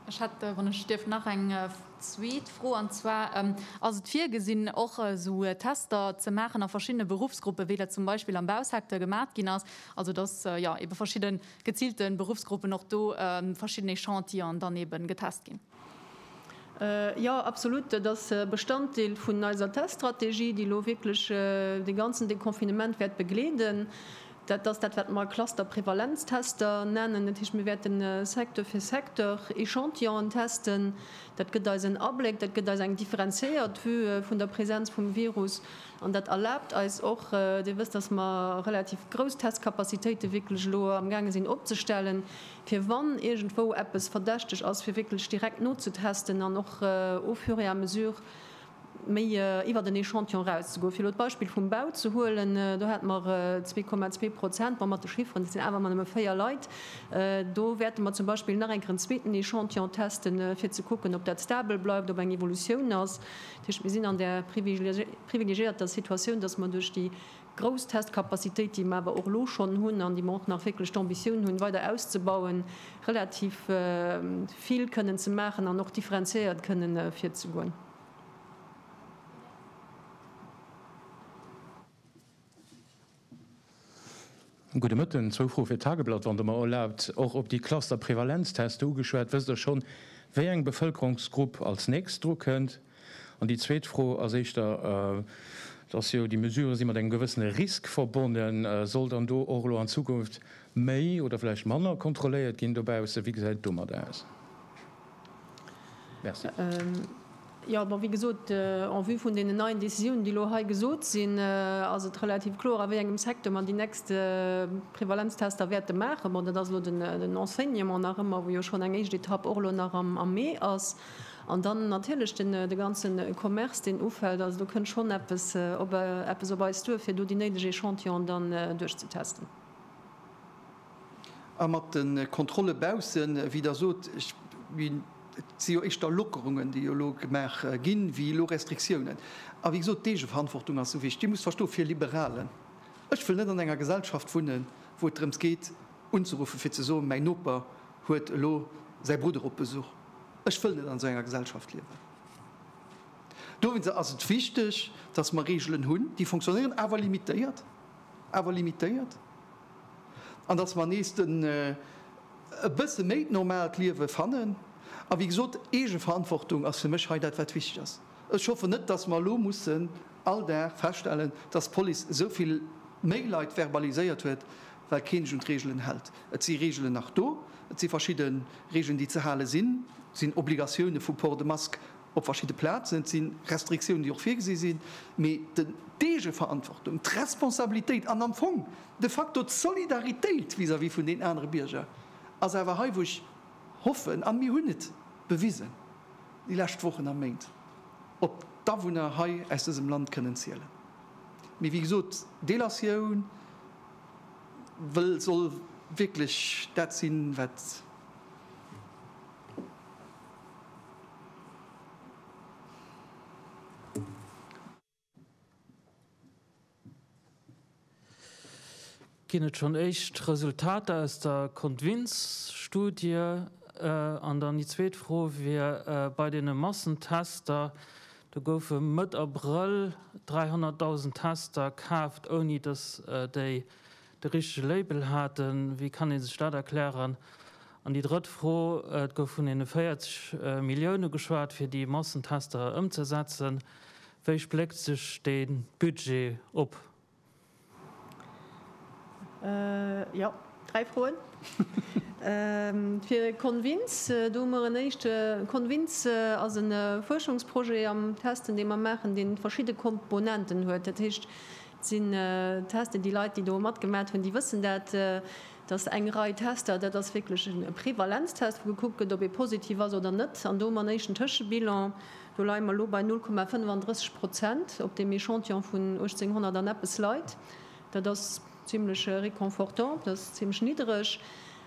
Ech hätt, wann ech dierf, nach eng zweet Fro, an zwar, Ass et virgesinn, och esou Tester ze maachen a verschiddene Beruffsgruppen, wéi dat zum Beispill am Bausecteur gemat ginn ass, also datt jo eebe verschidde geziilte Beruffsgruppen och do verschiddené Chantieren dann eebe getest ginn? Jo, absolut. Dat ass Bestanddeel vun eiser Teststrategie, déi elo wierklech de ganzen Deconfinement wäert begleeden. Dat ass dat, wat mer Cluster-Prevalenztester nennen. Dat heescht, mir wäerten Secteur fir Secteur Echantillonen testen. Dat gëtt eis en Abléck, dat gëtt eis eng differenziéiert Vue vun der Presenz vum Virus an dat erlaabt eis och, Dir wësst, dass mer relativ grouss Testcapacitéite wierklech elo amgaange sinn opzestellen, fir wann iergendwou eppes verdächteg ass, fir wierklech direkt nozetesten an och au fur et à mesure méi iwwert en Echantillon erauszegoen, fir elo d'Beispill vum Bau ze huelen, do hate mer zwee Komma zwee Prozent, ma mat de Chifferen, dat sinn awer ëmmer nëmme véier Leit, do wäerte mer zum Beispill nach eng Kéier en zweeten Echantillon testen, fir ze kucken, ob dat stabel bleift, ob eng Evolutioun ass. Dat heescht, mir sinn an där privilegiéierter Situatioun, dass mer duerch déi grouss Testcapacitéit, déi mer awer och elo schonn hunn an déi mer och nach wierklech d'Ambitioun hunn weider auszebauen, relativ vill kënnen ze maachen an och differenziéiert kënnen virzegoen. Gudde Mëtten. Zwou Froe fir d'Tageblatt, wann Der mer erlaabt. Och op déi Cluster-Prevalenzteste ugeschwat, wësst Der schonn, wéi eng Bevëlkerungsgrupp als nächst dru kënnt? An déi zweet Fro ass éischter, et ass jo, déi Mesurë si mat engem gewëssene Risk verbonnen, soll dann do och elo an Zukunft méi oder vläicht manner kontrolléiert ginn dobaussen? Wéi gesäit et domat aus? Merci. Jo, bon, wéi gesot, en vue vun deenen neien Décisiounen, déi elo hei gesot sinn, ass et relativ kloer, a wéi engem Secteur mer déi nächst Prevalenztester wäerte maachen. Bon, dat ass elo den Enseignement nach ëmmer, wou jo schonn eng éischt Etapp och elo nach am Mee ass. An dann natierlech de ganze Commerce, deen ufält. Also do kënnt schonn eppes op eis duer, fir do déi néideg Echantillone dann duerchzetesten. A mat de Kontrolle baussen, wéi Der sot, ech min, et si jo éischter Lockerungen, déi jo elo gemaach ginn, wéi elo Restriktiounen. A wéi gesot, d'Eegeverantwortung ass esou wichteg. Dir musst verstoen, fir e Liberalen, ech wëll net an enger Gesellschaft wunnen, wou et drëms geet, unzeruffe fir ze soen, mäi Noper huet elo säi Brudder op Besuch. Ech wëll net an esou enger Gesellschaft liewen. Dowéinst ass et wichteg, dass mer Reegelen hunn, déi fonctionnéieren, awer limitéiert, awer limitéiert. an dass mer nees den e bësse méi d'normaalt Liewe fannen. A wéi gesot, Eegeverantwortung ass fir mech hei dat wat wichteg ass. Ech hoffen net, dass mer elo mussen all Dag feststellen, dass d'Police esou vill méi Leit verbaliséiert huet, well kee sech un d'Reegelen hält. Et si Reegelen nach do, et si verschidde Reegelen déi ze hale sinn, et sinn Obligatioune vu Port de Masque Op verschidde Plazen. Et si Restriktiounen, déi och virgesi sinn. Mee d'Eegeverantwortung, d'Responsabilitéit an am Fong de facto d'Solidaritéit vis-à-vis vun den anere Bierger ass awer hei, wou ech hoffen, a mir hunn et bewisen déi lescht Wochen a Méint, op d'Awunner hei aus dësem Land kënnen zielen. Mee wéi gesot, Delatioun wëll, soll wierklech dat sinn, wat. Ginn et schonn éischt Resultater aus der Kontwinz-Studie? An dann déi zweet Fro wier, Bei deene Massentester, do goufe Mëtt Abrëll 300.000 Tester kaaft, ouni datt déi de richtege Label haten, wéi kann ee sech dat erklären? An déi drëtt Fro, et gouf vun deene 40 Millioune geschwat, fir déi Massentester ëmzesetzen, wéi spléckt sech dee Budget op? Jo, dräi Froen. Fir Convince, do hu mer en éischte. Convince ass e Fuerschungsprojet am Testen, dee mer maachen, dee verschidde Komponenten huet. Dat heescht, Et sinn Testen, déi Leit, déi do matgemat hunn, déi wëssen dat, dass eng Rei Tester, dat ass wierklech e Prevalenztest, wou gekuckt gëtt, ob ee positiv ass oder net. An do hu mer en éischten Tëschebilan, do leie mer elo bei 0,35 Prozent op deem Echantillon vun 1.800 an eppes Leit. Dat ass zimlech reconfortant, dat ass zimlech niddreg.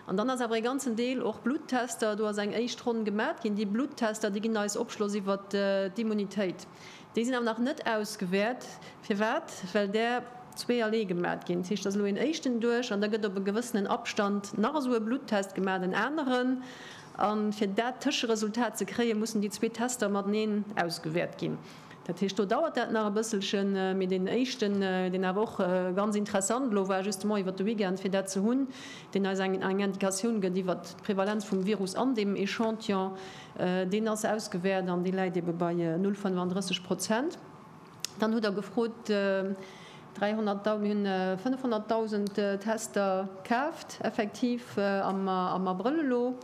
An dann ass awer e ganzen Deel och Bluttester, do ass eng éischt Ronn gemat ginn. Déi Bluttester, déi ginn eis Opschloss iwwert d'Immunitéit. Déi sinn awer nach net ausgewäert. Firwat? Well där zwee allee gemat ginn. Dat heescht, et ass elo een éischten duerch an da gëtt op e gewëssenen Abstand nach esou e Bluttest gemat, en aneren. A fir dat Tëscheresultat ze kréien, mussen déi zwee Tester mateneen ausgewäert ginn. Dat heescht, do dauert dat nach e bësselchen. Mee deen éischten, deen awer och ganz interessant elo war, justement iwwert de Weekend, fir dat ze hunn, deen eis eng Indicatioun gëtt iwwert d'Prevalenz vum Virus an deem Echantillon, Deen ass ausgewäert an dee läit ebe bei 0,35 Prozent. Dann hutt Der gefrot, 300.000, mir hunn 500.000 Tester kaaft effektiv am Abrëll elo.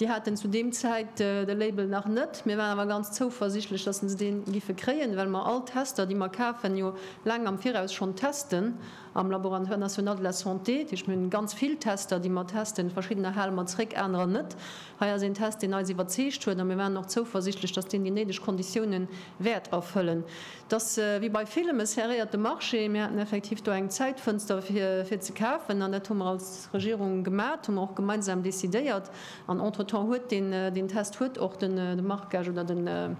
Déi haten zu deem Zäit de Label nach net. Mir waren awer ganz zouversichtlech, dass se dee giffe kréien, well mer all Tester, déi mer kafen, jo laang am Viraus schonn testen. Am Laboratoire national de la santé, dat heescht mir hunn ganz vill Tester, déi mer testen, verschiddener hale mer zréck, anerer net. Hei ass een Test, deen eis iwwerzeegt huet a mir waren och zouversichtlech, datt deen déi néideg Konditioune wäert erfëllen. Et ass wéi bei villem e serréierte Marché. Mir haten effektiv do eng Zäitfënster fir ze kafen an dat hu mer als Regierung gemat, hu mer och gemeinsam decidéiert an entretemps huet deen deen Test huet och de Marquage oder den,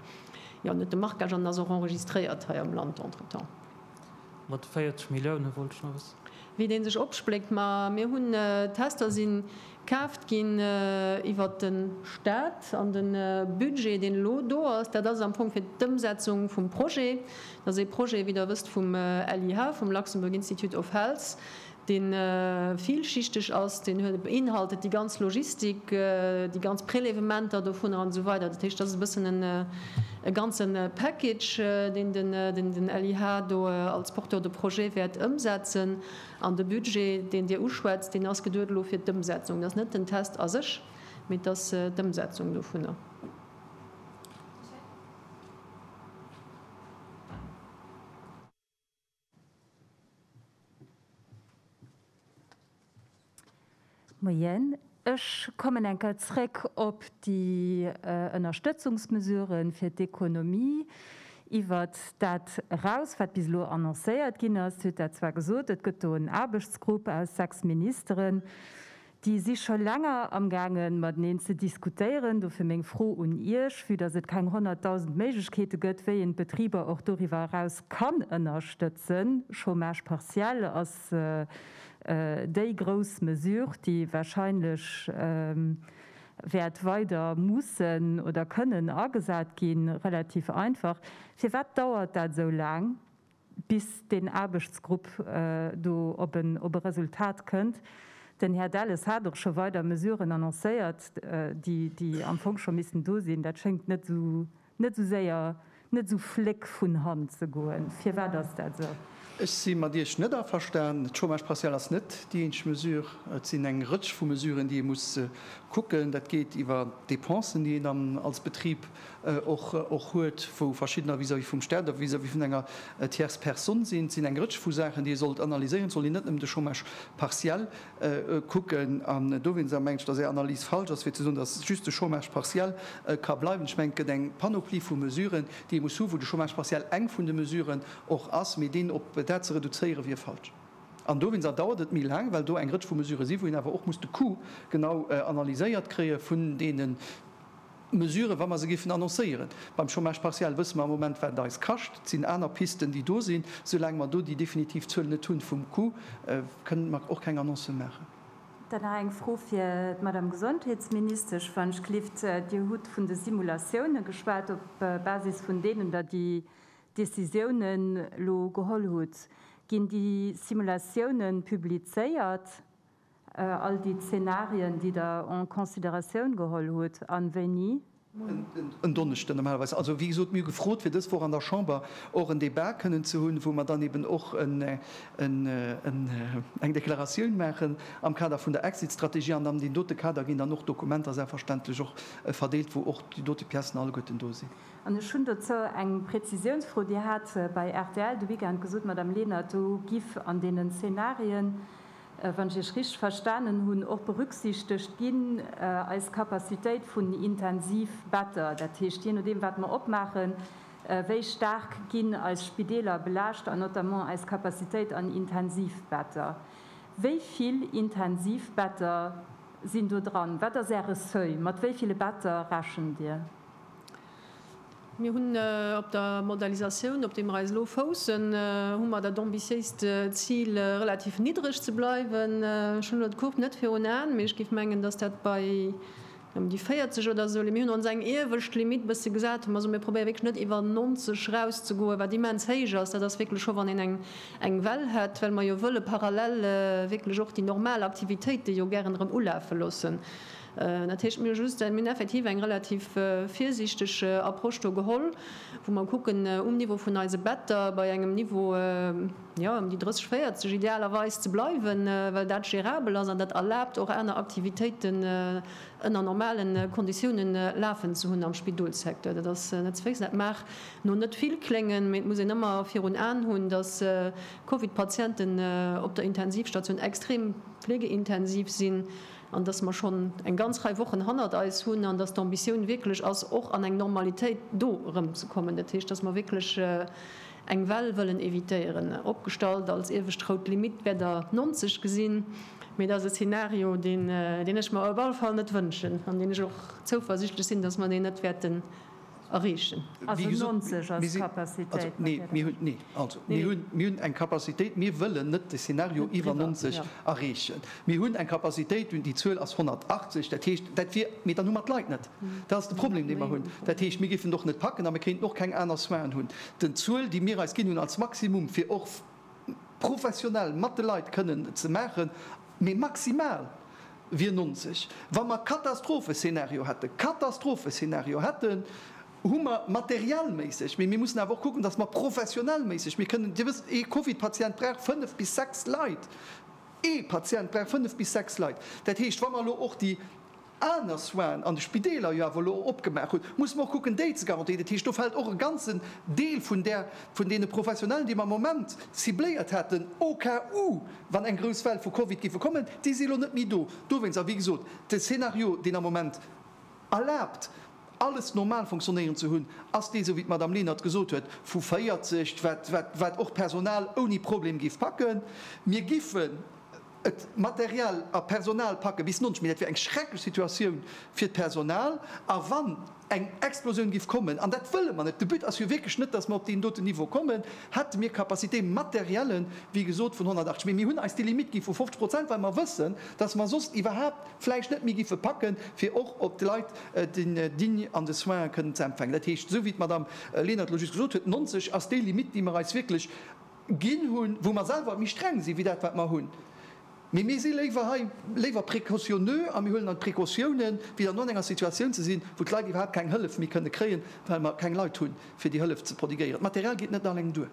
jo net de Marquage an ass och enregistréiert hei am Land entretemps. Mat 40 Milliounen wollt ech nach wëssen. Wéi deen sech opspléckt. Ma mir hunn Tester si kaaft ginn iwwert de Staat. An de Budget, deen elo do ass, dat ass am Fong fir d'Ëmsetzung vum Projet. Dat ass ee Projet, wéi Der wësst, vum LIH, vum Luxembourg Institute of Health, deen villschichteg ass, deen huet, beinhaltet déi ganz Logistik, déi ganz Prélèvementer dovunner an esou weider. Dat heescht, dat ass e bëssen e ganze Package, deen den LIH do als Porteur de projet wäert ëmsetzen. An de Budget, deen Dir uschwätzt, deen ass geduet elo fir d'Ëmsetzung. Dat ass net den Test a sech, mee et ass d'Ëmsetzung dovunner. Moien, ech kommen eng Kéier zréck op déi Ënnerstëtzungsmesurë fir d'Ekonomie. Iwwert dat eraus, wat bis elo annoncéiert ginn ass, hutt Der zwar gesot, et gëtt do en Aarbechtsgrupp aus sechs Ministeren, Déi si scho länger amgaangen, mateneen ze diskutéieren. Dofir meng Fro un Iech, vue dass et keng 100.000 Méiglechkeete gëtt, wéi een d'Betriber och doriwwer eraus kann ënnerstëtzen, Chômage partiel ass déi grouss Mesure, déi wahrscheinlech wäert weider mussen oder kënnen agesat ginn, relativ einfach, firwat dauert dat esou laang? bis deen Aarbechtsgrupp do op en Resultat kënnt. Den Här Delles hat och scho weider Mesuren annoncéiert, déi am Fong scho missten do sinn. Dat schéngt net esou séier, net esou fléck vun Hand ze goen. Firwat ass dat esou? Ech si mat Iech net averstan. De Chômage partiel ass net déi eenzeg Mesure. Et sinn eng Rëtsch vu Mesuren, déi ee muss kucken. Dat geet iwwer d'Dépensen, déi een dann als Betrib och huet, wou verschiddener vis-à-vis vum Staat a vis-à-vis vun enger Tierce personne sinn. Et sinn eng Rëtsch vu Saachen, déi ee sollt analyséieren. Et sollt een net nëmmen de Chômage partiel kucken. An do wier d'Sa, meng ech, datt Är Analys falsch ass, fir ze soen, datt just de Chômage partiel ka bleiwen. Ech mengen, et gëtt eng Panoplie vu Mesuren, déi ee muss hunn, wou de Chômage partiel eng vun de Mesuren och ass. Mee deen op dat ze reduzéiere wier falsch. An do, wéinst Aer, dauert et méi laang, well do eng Rëtsch vu Mesurë sinn, wou een awer och muss de Coût genau analyséiert kréie vun deenen, Mesuren, wa mer se géifen annoncéieren. Beim Chômage partiel wësse mer am Moment, wat et eis kascht. Et sinn aner Pisten, déi do sinn. Soulaang mer do déi definitiv Zuel net hunn vum Coût, kënnen mer och keng Annoncen maachen. Da nach eng Fro fir d'Madame Gesondheetsministesch, wann ech gelift. Dir hutt vun de Simulatioune geschwat, op Basis vun deenen Der déi Décisiounen elo geholl hutt. Ginn déi Simulatioune publizéiert All déi Zenarien, déi Der en considératioun geholl hutt, a wéini? En Donneschden normalerweis. Also, wéi gesot, mir hu gefrot, fir dës Woch an der Chamber och en Débat kënnen ze hunn, wou mer dann eeben och eng Deklaratioun maachen am Kader vun der Exit-Strategie. An an deem dote Kader ginn dann och d'Dokumenter selbstverständlech och verdeelt, wou och déi dote Piècen alleguerten do sinn. An ech hunn dozou eng Prezisiounsfro. Dir hat bei rtl de Weekend gesot, Madame Lenert, do giff an deenen Zenarien wann ech Iech richteg verstanen hunn, och berücksichtegt ginn, eis Capacitéit vun Intensivbetter. Dat heescht, jee nodeem, wat mer opmaachen, wéi staark ginn eis Spideeler belaascht an notamment eis Capacitéit an Intensivbetter. Wéi vill Intensivbetter sinn do dran? Wat ass Äre Seuil? Mat wéi ville Better rechent Dir? Mir hunn op der Modalisatioun, op deem mer eis elo foussen, hu mer dat ambitiéist Zil, relativ niddreg ze bleiwen. Ech hunn elo d'Courbe net virun Aen, mee ech géif mengen, dass dat bei ëm déi 40 oder esou leien. Mir hunn ons eng iewescht Limitt e bësse gesat, hu mer gesot, mir probéiere wierklech net iwwer 90 erauszegoen, wat immens héich ass. Dat ass wierklech scho, wann een eng Well hätt, well mer jo wëlle parallel wierklech och déi normal Aktivitéite jo gären erëm ulafe loossen. Dat heescht, mir hu just mir hunn effektiv eng relativ virsiichteg Approche do geholl, wou mer kucken, um Niveau vun eise Better bei engem Niveau, jo, ëm déi 30, 40 idealerweis ze bleiwen, well dat gérabel ass an dat erlaabt och aner Aktivitéiten ënner normale Konditioune lafen ze hunn am Spidolssecteur. Dat ass net ze vergiessen. Dat mag no net vill kléngen, mee et muss een ëmmer virun Aen hunn, dass Covid-Patienten op der Intensivstation extrem flegeintensiv sinn, an dass mer schonn eng ganz Rei Wochen hannert eis hunn an dass d'Ambitioun wierklech ass, och an eng Normalitéit do erëmzekommen, dat heescht, dass mer wierklech eng Well wëllen évitéieren, opgestallt als iewescht rout Limitt wäert Der 90 gesinn, mee dat ass e Szenario, deen ech mer op alle Fall net wënschen an deen ech och zouversiichtlech sinn, dass mer deen net wäerten. erreechen. Also 90 als Capacitéit? Neen, also mir hunn eng Capacitéit, mir wëllen net de Szenario iwwer 90 erreechen. Mir hunn eng Capacitéit un déi Zuel ass 180, dat heescht, dat wier, mee dann hu mer d'Leit net. Dat ass de Problem, dee mer hunn. Dat heescht, mir géifen et och net packen a mir kéinten och keng aner Soinen hunn. Den Zuel, déi mir eis ginn hunn als Maximum, fir och professionell mat de Leit kënnen ze maachen, mee maximal wier 90. Wa mer Katastropheszenario hätten, Katastropheszenario hätten, hu mer materiellméisseg, mee mir mussen awer och kucken, dass mer professionellméisseg, mir kënnen, Dir wësst, ee Covid-Patient brauch fënnf bis sechs Leit, ee Patient brauch fënnf bis sechs Leit. Dat heescht, wa mer elo och déi. aner Soins an de Spideeler jo awer elo opgemaach hunn, muss mer och kucken, déi ze garantéieren. Dat heescht, do fält och e ganzen Deel vun där, vun deene Professionellen, déi mer am Moment cibléiert haten, au cas où, wann eng grouss Well vu Covid géife kommen, déi si elo net méi do. Dowéinst, a wéi gesot, de Szenario, deen am Moment erlaabt, alles normal fonctionnéieren ze hunn, ass dee, esou wéi d'Madame Lenert gesot huet, vu 40, wat och d'Personal ouni Problem géif packen. Mir giffen. Et Material a Personal packe bis nonsch, mee dat wier eng schrecklech Situatioun fir d'Personal. A wann eng Explosioun giff kommen, an dat wëlle mer net, de But ass jo wierklech net, datt mer op deen doten Niveau kommen, hätte mir Capacité materielle, wéi gesot, vun 180. Mee mir hunn eis déi Limitt gi vu 50 Prozent, well mer wëssen, datt mer soss iwwerhaapt vläicht net méi giffe packen, fir och op d'Leit digne an de Soins kënnen ze empfänken. Dat heescht, esou wéi d'Madame Lenert elo just gesot huet, 90 ass déi Limitt, déi mer eis wierklech ginn hunn, wou mer selwer méi streng sinn, wéi dat wat mer hunn, mee mir si léiwer hei léiwer précautionneux a mir huelen dann d'Précautiounen, wéi dann do an enger Situatioun ze sinn, wou d'Leit iwwerhaapt keng Hëllef méi kënne kréien, well mer keng Leit hunn, fir déi Hëllef ze prodiguéieren. D'Material geet net alleng duer.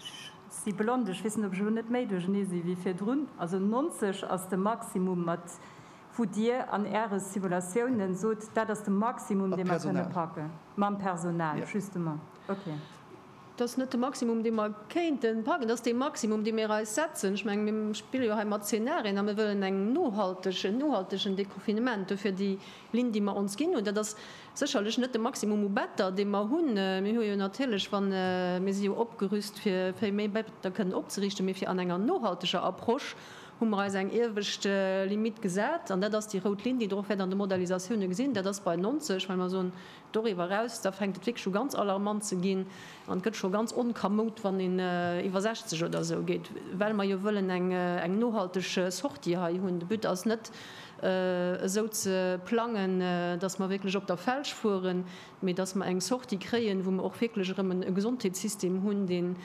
Ech si blond, ech weess net, ob ech elo net méi duerchernee sinn, wéi virdrun. Also 90 ass de Maximum, mat wou Dir an Äre Simulatiounen sot, dat ass de Maximum, dee mer kënne packen. Mam Personal. Mam Personal, justement. Dat ass net de Maximum, dee mer kéinte packen. Dat ass dee Maximum, dee mir eis setzen. Ech menge mir spille jo hei mat Zenarien a mir wëllen eng nohalteg, en nohaltegen Deconfinement. Duerfir déi Linn, déi mer ons ginn hunn, dat ass sécherlech net de Maximum u Better, dee mer hunn. Mir hu jo natierlech, wa mir si jo opgerüst, fir vill méi Better kënnen opzeriichten, mee fir an enger nohalteger Approche hu mer eis eng iewescht Limitt gesat. An dat ass déi rout Linn, déi drop wäert an de Modalisatioune gesinn. Dat ass bei 90, well mer soen, Doriwwer eraus, da fänkt et wierklech u ganz alarmant ze ginn an et gëtt scho ganz onkamoud, wann een iwwer 60 oder esou geet, well mer jo wëllen eng nohalteg Sortie hei hunn. De But ass net, esou ze plangen, dass mer wierklech op der Felsch fueren, mee dass mer eng Sortie kréien, wou mer och wierklech erëm e Gesondheetssystem hunn, deen,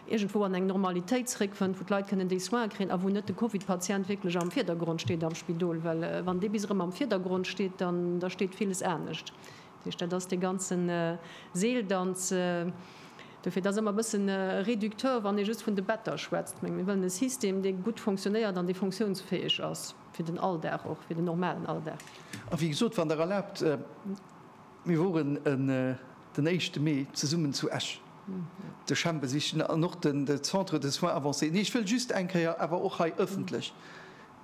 iergendwou an eng Normalitéit zréckfënnt, wou d'Leit kënnen déi Soine kréien a wou net de Covid-Patient wierklech am Virdergrond steet am Spidol. Well wann dee bis erëm am Virdergrond steet, dann da steet villes anescht. Dat heescht, dat ass dee ganze Seeldanz. Dofir, et ass ëmmer e bësse réducteur, wann ee just vun de Better schwätzt. Mir wëllen e System, dee gutt fonctionnéiert an dee funktiounsfäeg ass fir den Alldag, och fir den normalen Alldag. A wéi gesot, wann Der erlaabt, Mir woren den éischte Mee zesummen zu Esch de CHEM besichen an och de Centre de soins avancés. Nee, ech wëll just eng Kéier awer och hei ëffentlech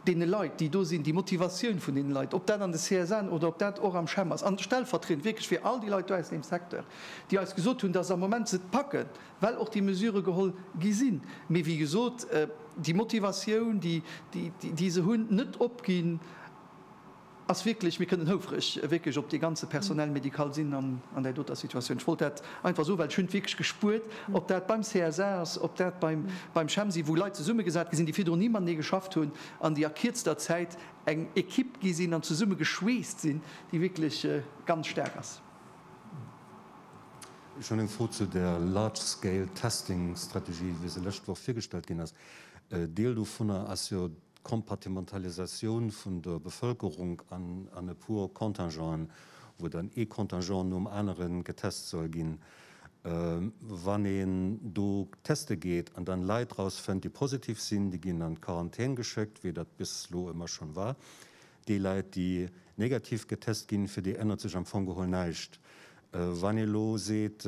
deene Leit, déi do sinn, déi Motivatioun vun deene Leit, ob dat an de CSN oder ob dat och am CHEM ass, an stellvertriedend wierklech fir all déi Leit do aus deem Secteur, déi eis gesot hunn, dass am Moment se et packen, well och déi Mesurë geholl gi sinn, mee wéi gesot, déi Motivatioun, déi se hunn, net opginn. ass wierklech, mir kënnen houfreg wierklech op dee ganze Personnel médical sinn an där doter Situatioun. Ech wollt dat einfach soen, well ech hunn et wierklech gespuert, ob dat beim CSA ass, ob dat beim CHEMSI, wou Leit zesummegesat gi sinn, déi virdrun ni matenee geschafft hunn an déi a kierzter Zäit eng Equipe gi sinn an zesumme geschweesst sinn, déi wierklech ganz staark ass. Ech hunn eng Fro zu där Large-Scale-Testing-Strategie, wéi se d'lescht Woch virgestallt ginn ass. Deel dovunner ass jo Kompartimentalisatioun vun der Bevëlkerung an e puer Contingenten, wou dann ee Contingent nom anere getest soll ginn. Wann een do teste geet an dann Leit rausfënnt, déi positiv sinn, déi ginn an d'Quarantän geschéckt, wéi dat bis elo ëmmer schonn war. Déi Leit, déi negativ getest ginn, fir déi ännert sech am Fong geholl näischt. Wann ee elo seet,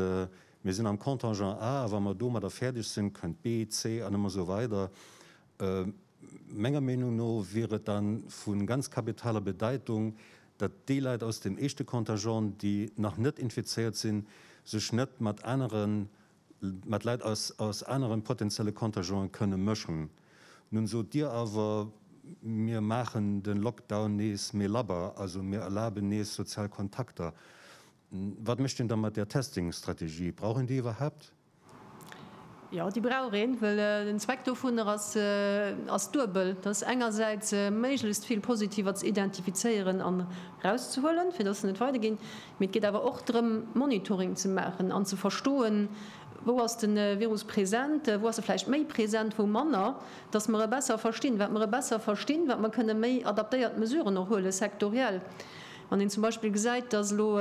mir sinn am Contingent A, a wa mer domadder fäerdeg sinn, kënnt B, C an ëmmer esou weider, Menger Meenung no wier et dann vu ganz kapitaler Bedeitung, datt déi Leit aus dem éischte Contingent, déi nach net infizéiert sinn, sech net mat aneren, mat Leit aus anere potenzielle Contingenten kënne mëschen. Nun sot Dir awer, mir maachen de Lockdown nees méi labber, also mir erlaben nees sozial Kontakter. Wat mécht een da mat där Testing-Strategie? Brauch een déi iwwerhaapt? Jo, déi brauch een, well den Zweck dovunner ass duebel, dat ass engersäits méiglechst vill Positiver ze identifizéieren an erauszehuelen, fir dass se net weiderginn, mee et geet awer och drëm Monitoring ze maachen an ze verstoen, wou ass de Virus present, wou ass e vläicht méi present, wou manner, dass mer e besser verstinn. Wat mer e besser verstinn, wat mer kënne méi adaptéiert Mesuren och huele sektoriell. Wann een zum Beispill gesäit, dass elo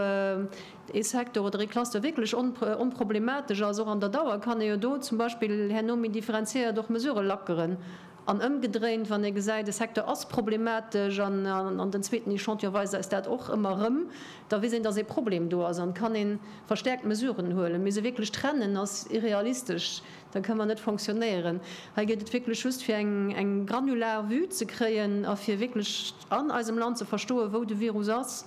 ee Secteur oder ee Cluster wierklech onproblematesch ass. Och an der Dauer kann ee jo do zum Beispill herno méi differenziéiert och Mesurë lackeren. An ëmgedréint, wann ee gesäit, e Secteur ass problematesch an den zweeten Echantillon weist eis dat och ëmmer erëm, da weess een, datt ee Problem do ass an kann ee verstäerkt Mesuren huelen. Mee se wierklech trennen ass irrealistesch, da kënne mer net fonctionnéieren. Hei geet et wierklech just fir eng granular Vue ze kréien a fir wierklech an eisem Land ze verstoen, wou de Virus ass.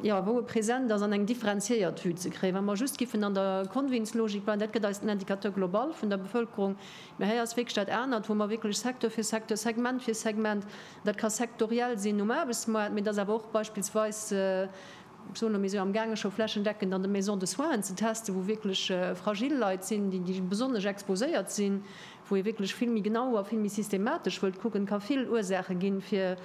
jo, wou e present ass, an eng differenziéiert Vue ze kréien. Wa mer just giffen an der Convins-Logik bleiwen, dat gëtt eis den Indicateur global vun der Bevëlkerung, mä hei ass wierklech dat anert, wou mer wierklech Secteur fir Secteur, Segment fir Segment, dat ka sektoriell sinn um Aarbechtsmoart, mä et ass awer och beispillsweis, ech soen elo, mir si jo amgaange scho flächendeckend an de Maisons de soins ze testen, wou wierklech fragil Leit sinn, déi, déi besonnesch exposéiert sinn, wou ee wierklech vill méi genau a vill méi systematesch wëllt kucken, ka vill Ursaache ginn, fir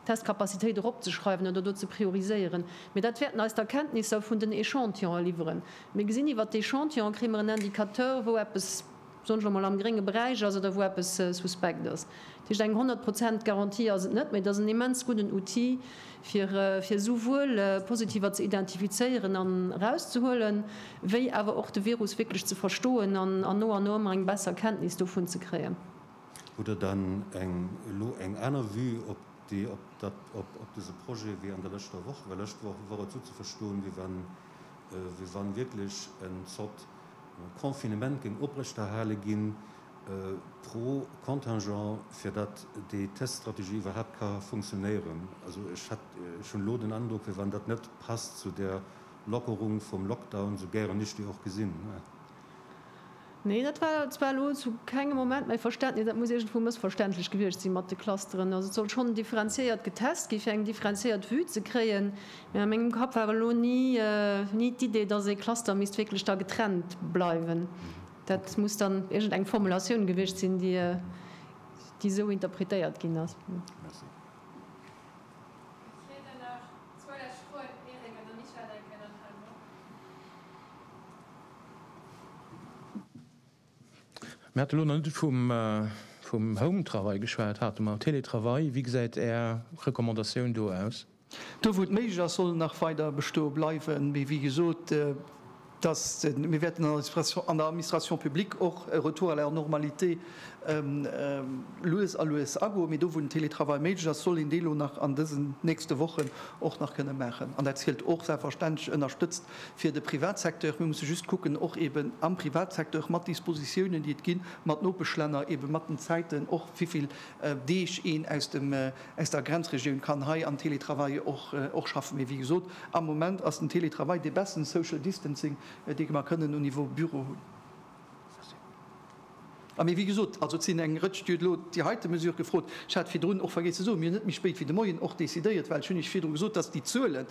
Testcapacitéit eropzeschreiwen oder do ze prioriséieren, mee dat wäerten eis d'Erkenntnisser vun den Echantillone liwweren. Mir gesinn iwwert d'Echantillone kréie mer en Indicateur, wou eppes, soen ech elo mol, am grénge Beräich ass oder wou eppes suspekt ass. Dat heescht, eng 100 Prozent Garantie ass et net, mee et ass en immens gudden Outil, fir esouwuel Positiver ze identifizéieren an erauszehuelen, wéi awer och de Virus wierklech ze verstoen an no an no ëmmer eng besser Kenntnis dovun ze kréien. Hutt Der dann eng elo eng aner Vue op déi, op dat, op, op dese Projet wéi an der lëschter Woch? Well lëscht Woch wor et esou ze verstoen, wéi wann, wéi wann wierklech en Zort Confinement géing oprechterhale ginn pro Contingent, fir dat déi Teststrategie iwwerhaapt ka funktionéieren. Also ech hat, ech hunn elo den Androck, wéi wann dat net passt zu där Lockerung vum Lockdown, sou gären ech déi och gesinn. Nee, dat war zwar elo zu kengem Moment mäi Verständnis. Dat muss iergendwou mëssverständlech gewiescht sinn mat de Clusteren. Also et soll schonn differenziéiert getest ginn, fir eng differenziéiert Vue ze kréien. Mee a mengem Kapp war elo ni ni d'Idee, datt ee Cluster misst wierklech da getrennt bleiwen. Dat muss dann iergendeng Formulatioun gewiescht sinn, déi esou interpretéiert ginn ass. Mir hate lo nach net vum Home-Travail geschwat, hate mer Télétravail. Wéi gesäit Är Recommandatioun do aus? Do wou et méiglech ass, soll en nach weider bestoe bleiwen. Mee wéi gesot, dass mir wäerten an der Administration publique och e Retour à la normalité lues a lues agoen. Mee do wou den Télétravail méiglech ass, soll een dee lo nach an dësen nächste Wochen och nach kënne maachen. An dat zielt och selbstverständlech, ënnerstëtzt Fir de Privatsecteur, mir musse just kucken och eeben am Privatsecteur mat Dispositiounen, déi et ginn, mat Nopeschlänner, eebe mat den Zäiten och, wéivill Deeg een aus dem, aus der Grenzregioun kann hei am Télétravail och, och schaffen. Mee wéi gesot, am Moment ass den Télétravail dee besten Social Distancing, dee mer kënnen au niveau Büro hunn. A mee, wéi gesot, also et sinn eng Rëtsch, Dir hutt elo déi heite Mesure gefrot, ech hat virdrun och vergiess ze soen, mir hunn net méi spéit wéi de Moien och decidéiert, well ech hunn Iech virdru gesot, dass déi Zuelen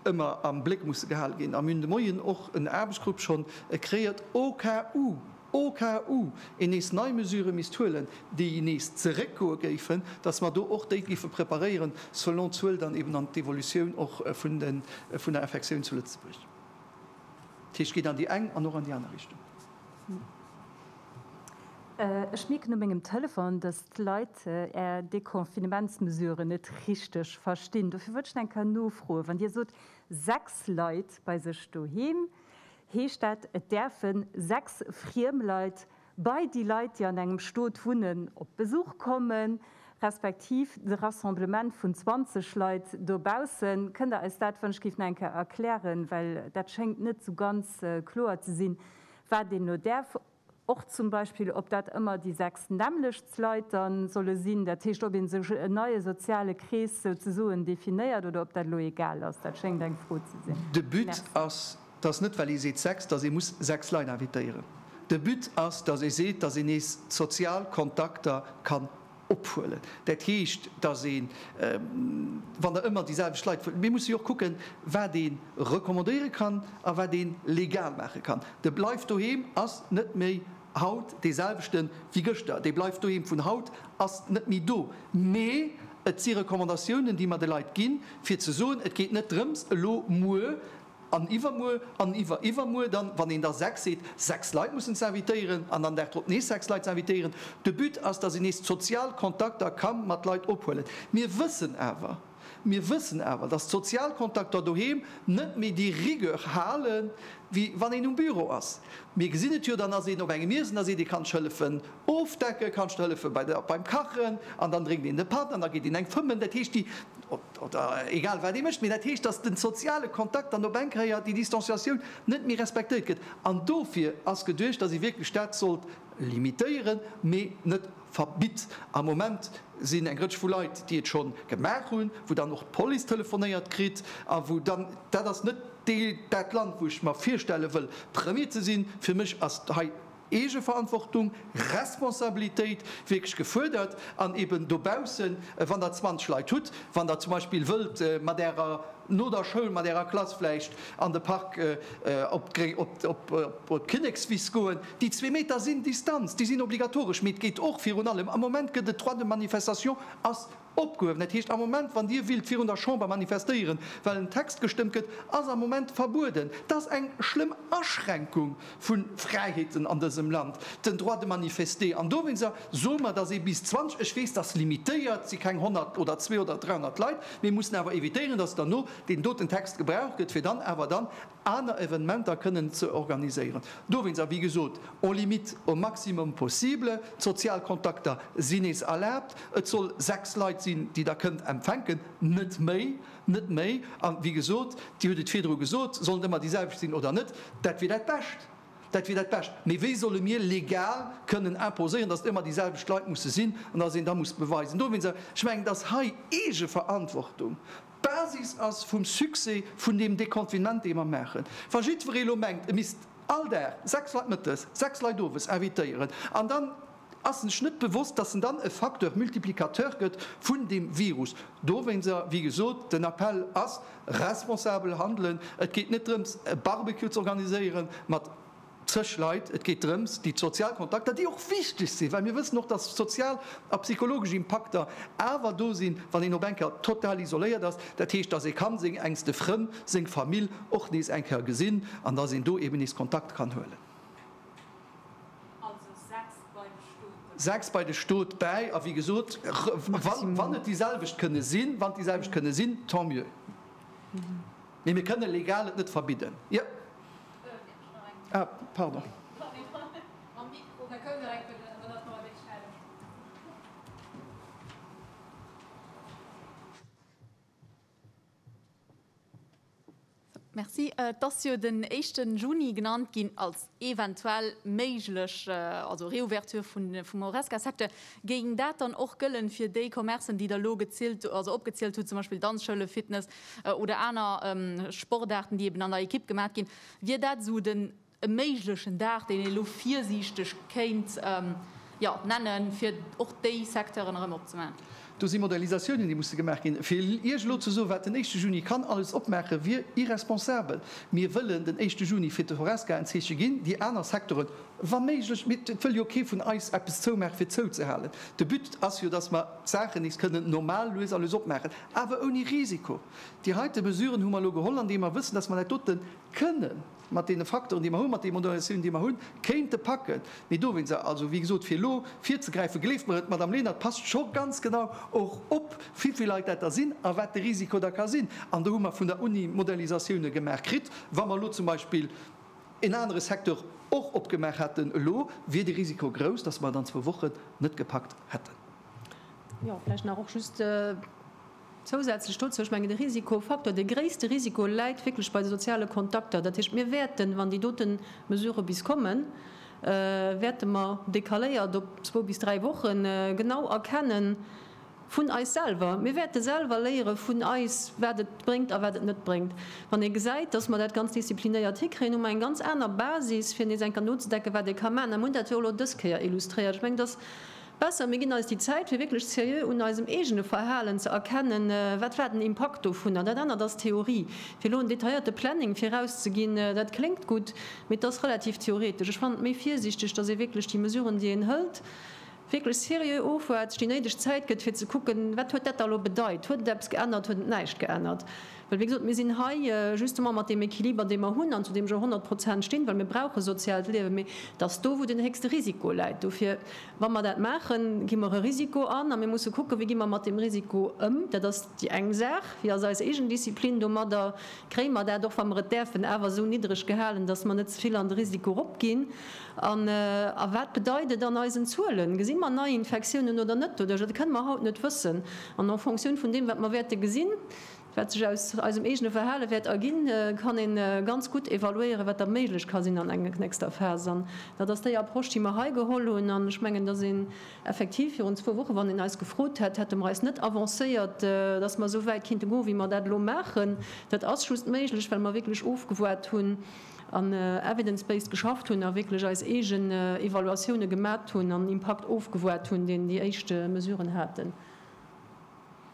ëmmer am Bléck musse gehale ginn. A mir hunn de Moien och en Aarbechtsgrupp schonn kreéiert au cas où, au cas où een nees nei Mesurë misst huelen, déi nees zeréckgoe géifen, dass mer do och déi géife preparéieren selon d'Zuel dann eben an d'Evolutioun och vun der Infektioun zu Lëtzebuerg. Dat heescht, geet an déi eng an och an déi aner Richtung. Ech mierken u mengem Telefon, dass d'Leit Är Deconfinementsmesuren net richteg verstinn. Dofir wollt ech nach eng Kéier nofroen. Wann Dir sot, sechs Leit bei sech doheem, heescht dat, et däerfe sechs friem Leit bei déi Leit, déi an engem Stot wunnen, op Besuch kommen, respektiv de Rassemblement vun 20 Leit dobaussen. Kënnt Der eis dat, wann ech géif, nach eng Kéier erklären, well dat schéngt net esou ganz kloer ze sinn, wat een elo däerf, och zum Beispill, ob dat ëmmer déi sechs nämmlechts Leit da solle sinn, dat heescht, ob ee sech en neie soziale Krees souzesoen definéiert oder ob dat elo egal ass. Dat schéngt eng Fro ze sinn. De But ass, Merci. 't ass net well ee seet sechs, dass ee muss sechs Leit invitéieren. De But ass, dass ee seet, dass een nees sozial Kontakter kann ophuelen. Dat heescht, dass een, wann Der ëmmer déi selwecht Leit wëllt, mir musse jo och kucken, wat ee recommandéiere kann a wat ee legal maache kann. De Bleif doheem ass net méi haut dee selwechte wéi gëschter. Dee Bleif doheem vun haut ass net méi do. Mee et si Recommandatiounen, déi mer de Leit ginn, fir ze soen, et geet net drëms, elo muer An iwwermuer an iwweriwwermuer dann, wann een da sechs seet, sechs Leit mussen ze invitéieren an dann dagdrop nees sechs Leit ze invitéieren. De But ass, datt een nees d'sozial Kontakter ka mat Leit ophuelen. Mir wëssen awer, mir wëssen awer, datt d'sozial Kontakter doheem net méi déi Rigueur hale wéi wann een um Büro ass. Mir gesinn et jo, dann ass een op engem Iessen, da seet ee, kann ech hëllefen ofdecken, kann ech der hëllefen beim Kachen? An dann drénkt een de Patt an da geet een eng fëmmen. Dat heescht déi. oder egal wat ee mécht, mee dat heescht, dass de soziale Kontakt dann op eng Kéier, déi Distanciatioun net méi respektéiert gëtt. An dofir ass geduecht, dass ee wierklech dat sollt limitéieren, mee net verbitt. Am Moment sinn eng Rëtsch vu Leit, déi et scho gemaach hunn, wou dann och d'Police telefonéiert kritt a wou dann, dat ass net dat Land, wou ech mer virstelle wëll, Premier ze sinn. Fir mech ass hei. Eegeverantwortung, Responsabilitéit wierklech gefuerdert an eben dobaussen, wann Der 20 Leit hutt, wann Der zum Beispill wëllt mat Ärer, no der Schoul mat Ärer Klass vläicht an de Park op d'Kinnekswiss goen, déi zwee Meter sinn Distanz, déi sinn obligatoresch, mee et geet och virun allem, am Moment gëtt et Droit de manifestation, ass Opgehuewen. Dat heescht, am Moment, wann Dir willt virun der Chamber manifestéieren, well en Text gestëmmt gëtt, ass am Moment verbueden. Dat ass eng schlëmm Aschränkung vu Fräiheeten an dësem Land, den Droit de manifester. An dowéinster soe mer, datt ee bis 20, ech weess, dat ass limitéiert, et si keng 100 oder 200 oder 300 Leit, mir mussen awer evitéieren, datt derno deen doten Text gebraucht gëtt, fir dann awer dann aner Evenementer kënnen ze organiséieren. Dowéinst, a wéi gesot, en limite au maximum possible, d'sozial Kontakter sinn nees erlaabt, et soll sechs Leit sinn, déi Der kënnt empfänken, net méi, net méi. A wéi gesot, Dir hutt et virdru gesot, sollen et ëmmer déi selwecht sinn oder net, dat wier dat Bescht, dat wier dat Bescht. Mee wéi solle mir legal kënnen imposéieren, datt et ëmmer déi selwecht Leit musse sinn an datt een da muss beweisen? Dowéinst, ech mengen, et ass hei Eegeverantwortung, D'Basis ass vum Succès vun deem Deconfinement, dee mer maachen. Wa jiddweree elo mengt, e misst all Dag sechs Leit mëttes, sechs Leit owes invitéieren an dann ass en sech net bewosst, dass en dann e Facteur multiplicateur gëtt vun deem Virus. Dowéinser, wéi gesot, den Appell ass, responsabel handelen. Et geet net drëms, e Barbecue z'organiséieren mat. Zeg Leit, et geet drëms, déi sozial Kontakter, déi och wichteg sinn, well mir wëssen och, dass sozial a psychologesch Impakter awer do sinn, wann een op eng Kéier total isoléiert ass, dat heescht, dass ee ka seng enkste Frënn, seng Famill och nees eng Kéier gesinn an dass een do eeben nees Kontakt kann huelen. Also sechs bei de Stot bäi. Sechs bei de Stot bäi. A wéi gesot, wann et déi selwecht kënne sinn, wann et déi selwecht kënne sinn, tant mieux. Mee mir kënne legal et net verbidden. Et ass jo den éischten Juni genannt ginn als eventuell méiglech Reouverture vum Horesca-Secteur. Géing dat dann och gëllen fir déi Commercen, déi Der elo opgezielt hutt, zum Beispill Danzschoule, Fitness, oder aner Sportaarten, déi eben an der Ekipp gemaach ginn, wier dat esou den e méiglechen Dag, deen ee lo virsiichteg kéint nennen, fir och déi Secteuren erëm opzemaachen? Do si Modalisatiounen, déi musse gemaach ginn. Fir Iech elo ze soen, wat den éischte Juni kann alles opmaachen, wier irresponsabel. Mir wëllen den éischte Juni fir d'Horesca en Zeeche ginn, déi aner Secteuren wa méiglech, mee et wëll jo kee vun eis eppes zoumaachen, fir zouzehalen. De But ass jo, dass mer. D'Saachen nees kënnen normal lues a lues opmaachen, awer ouni Risiko. Déi heite Mesuren hu mer elo geholl, andeem mer wëssen, datt mer dat dote kënne mat deene Facteuren, déi mer hunn, mat deene Modernisatiounen, déi mer hunn, kéinte packen. Mee dowéinst, also wéi gesot, fir elo virzegräifen, gleeft mer et, d'Madame Lenert passt scho ganz genau och op, vivill Leit dat der sinn a wat de Risiko da ka sinn. An do hu mer vun der Uni Modernisatioune gemaach kritt. Wa mer elo zum Beispill en anere Secteur och opgemaach hätten elo, wier de Risiko grouss, datt mer et an zwou Wochen net gepackt hätten. Jo, vläicht nach och just zousätzlech dozou, ech mengen de Risikofaktor, de gréisste Risiko läit wierklech bei de soziale Kontakter. Dat heescht, mir wäerten, wann déi dote Mesurë bis kommen, wäerte mer decaléiert op zwou bis dräi Woche genau erkenne vun eis selwer, mir wäerte selwer léiere vun eis, wat et bréngt a wat et net bréngt. Wann ee gesäit, dass mer dat ganz disziplinéiert hikréien, hu mer eng ganz aner Basis, fir nees eng Kéier nozedenken, wat ee ka maachen. Mir hunn dat jo elo dës Kéier illustréiert. Ech mengen, dass Besser, mir ginn eis déi Zäit, fir wierklech seriö un eisem eegene Verhalen ze erkennen, wat war den Impakt dovun. An dat anert ass d'Theorie. Fir elo en detailléierte Planning virauszeginn, dat kléngt gutt, mee et ass relativ theoretesch. Ech fannen et méi virsiichteg, datt ee wierklech déi Mesuren, déi een hëlt, wierklech seriö ofwaart, sech déi néideg Zäit gëtt, fir ze kucken, wat huet dat da elo bedeit. Huet et eppes geännert? Huet et näischt geännert? Well, wéi gesot, mir sinn hei justement mat deem Equiliber, dee mer hunn an zu deem ech och honnert Prozent stinn, well mir brauche soziaalt Liewen, mee dat ass do, wou den héchste Risiko läit. Dofir, wa mer dat maachen, gi mer e Risiko an a mir musse kucken, wéi gi mer mat deem Risiko ëm. Dat ass déi eng Saach. Wéi ass eis eegen Disziplin domadder? Kréie mer dat, och wa mer et däerfen, awer esou niddreg gehalen, dass mer net ze vill an de Risiko eropginn? An a wat bedeit et an eisen Zuelen? Gesi mer Neiinfektiounen oder net doduerch? Dat kënne mer haut net wëssen. An en fonction vun deem, wat mer wäerte gesinn, Wat sech aus eisem eegene Verhale wäert erginn, kann ee ganz gutt evaluéieren, wat da méiglech ka sinn an eng nächster Phas. An dat ass déi Approche, déi mer hei geholl hunn. An ech mengen, dass een effektiv virun zwou Wochen, wann een eis gefrot hätt, hätte mer eis net avancéiert, dass mer esou wäit kinnte goen, wéi mer dat elo maachen. Dat ass just méiglech, well mer wierklech ofgewaart hunn an evidence-based geschafft hunn a wierklech eis eegen Evaluatioune gemat hunn an Impakt ofgewaart hunn, deen déi éischte Mesuren haten.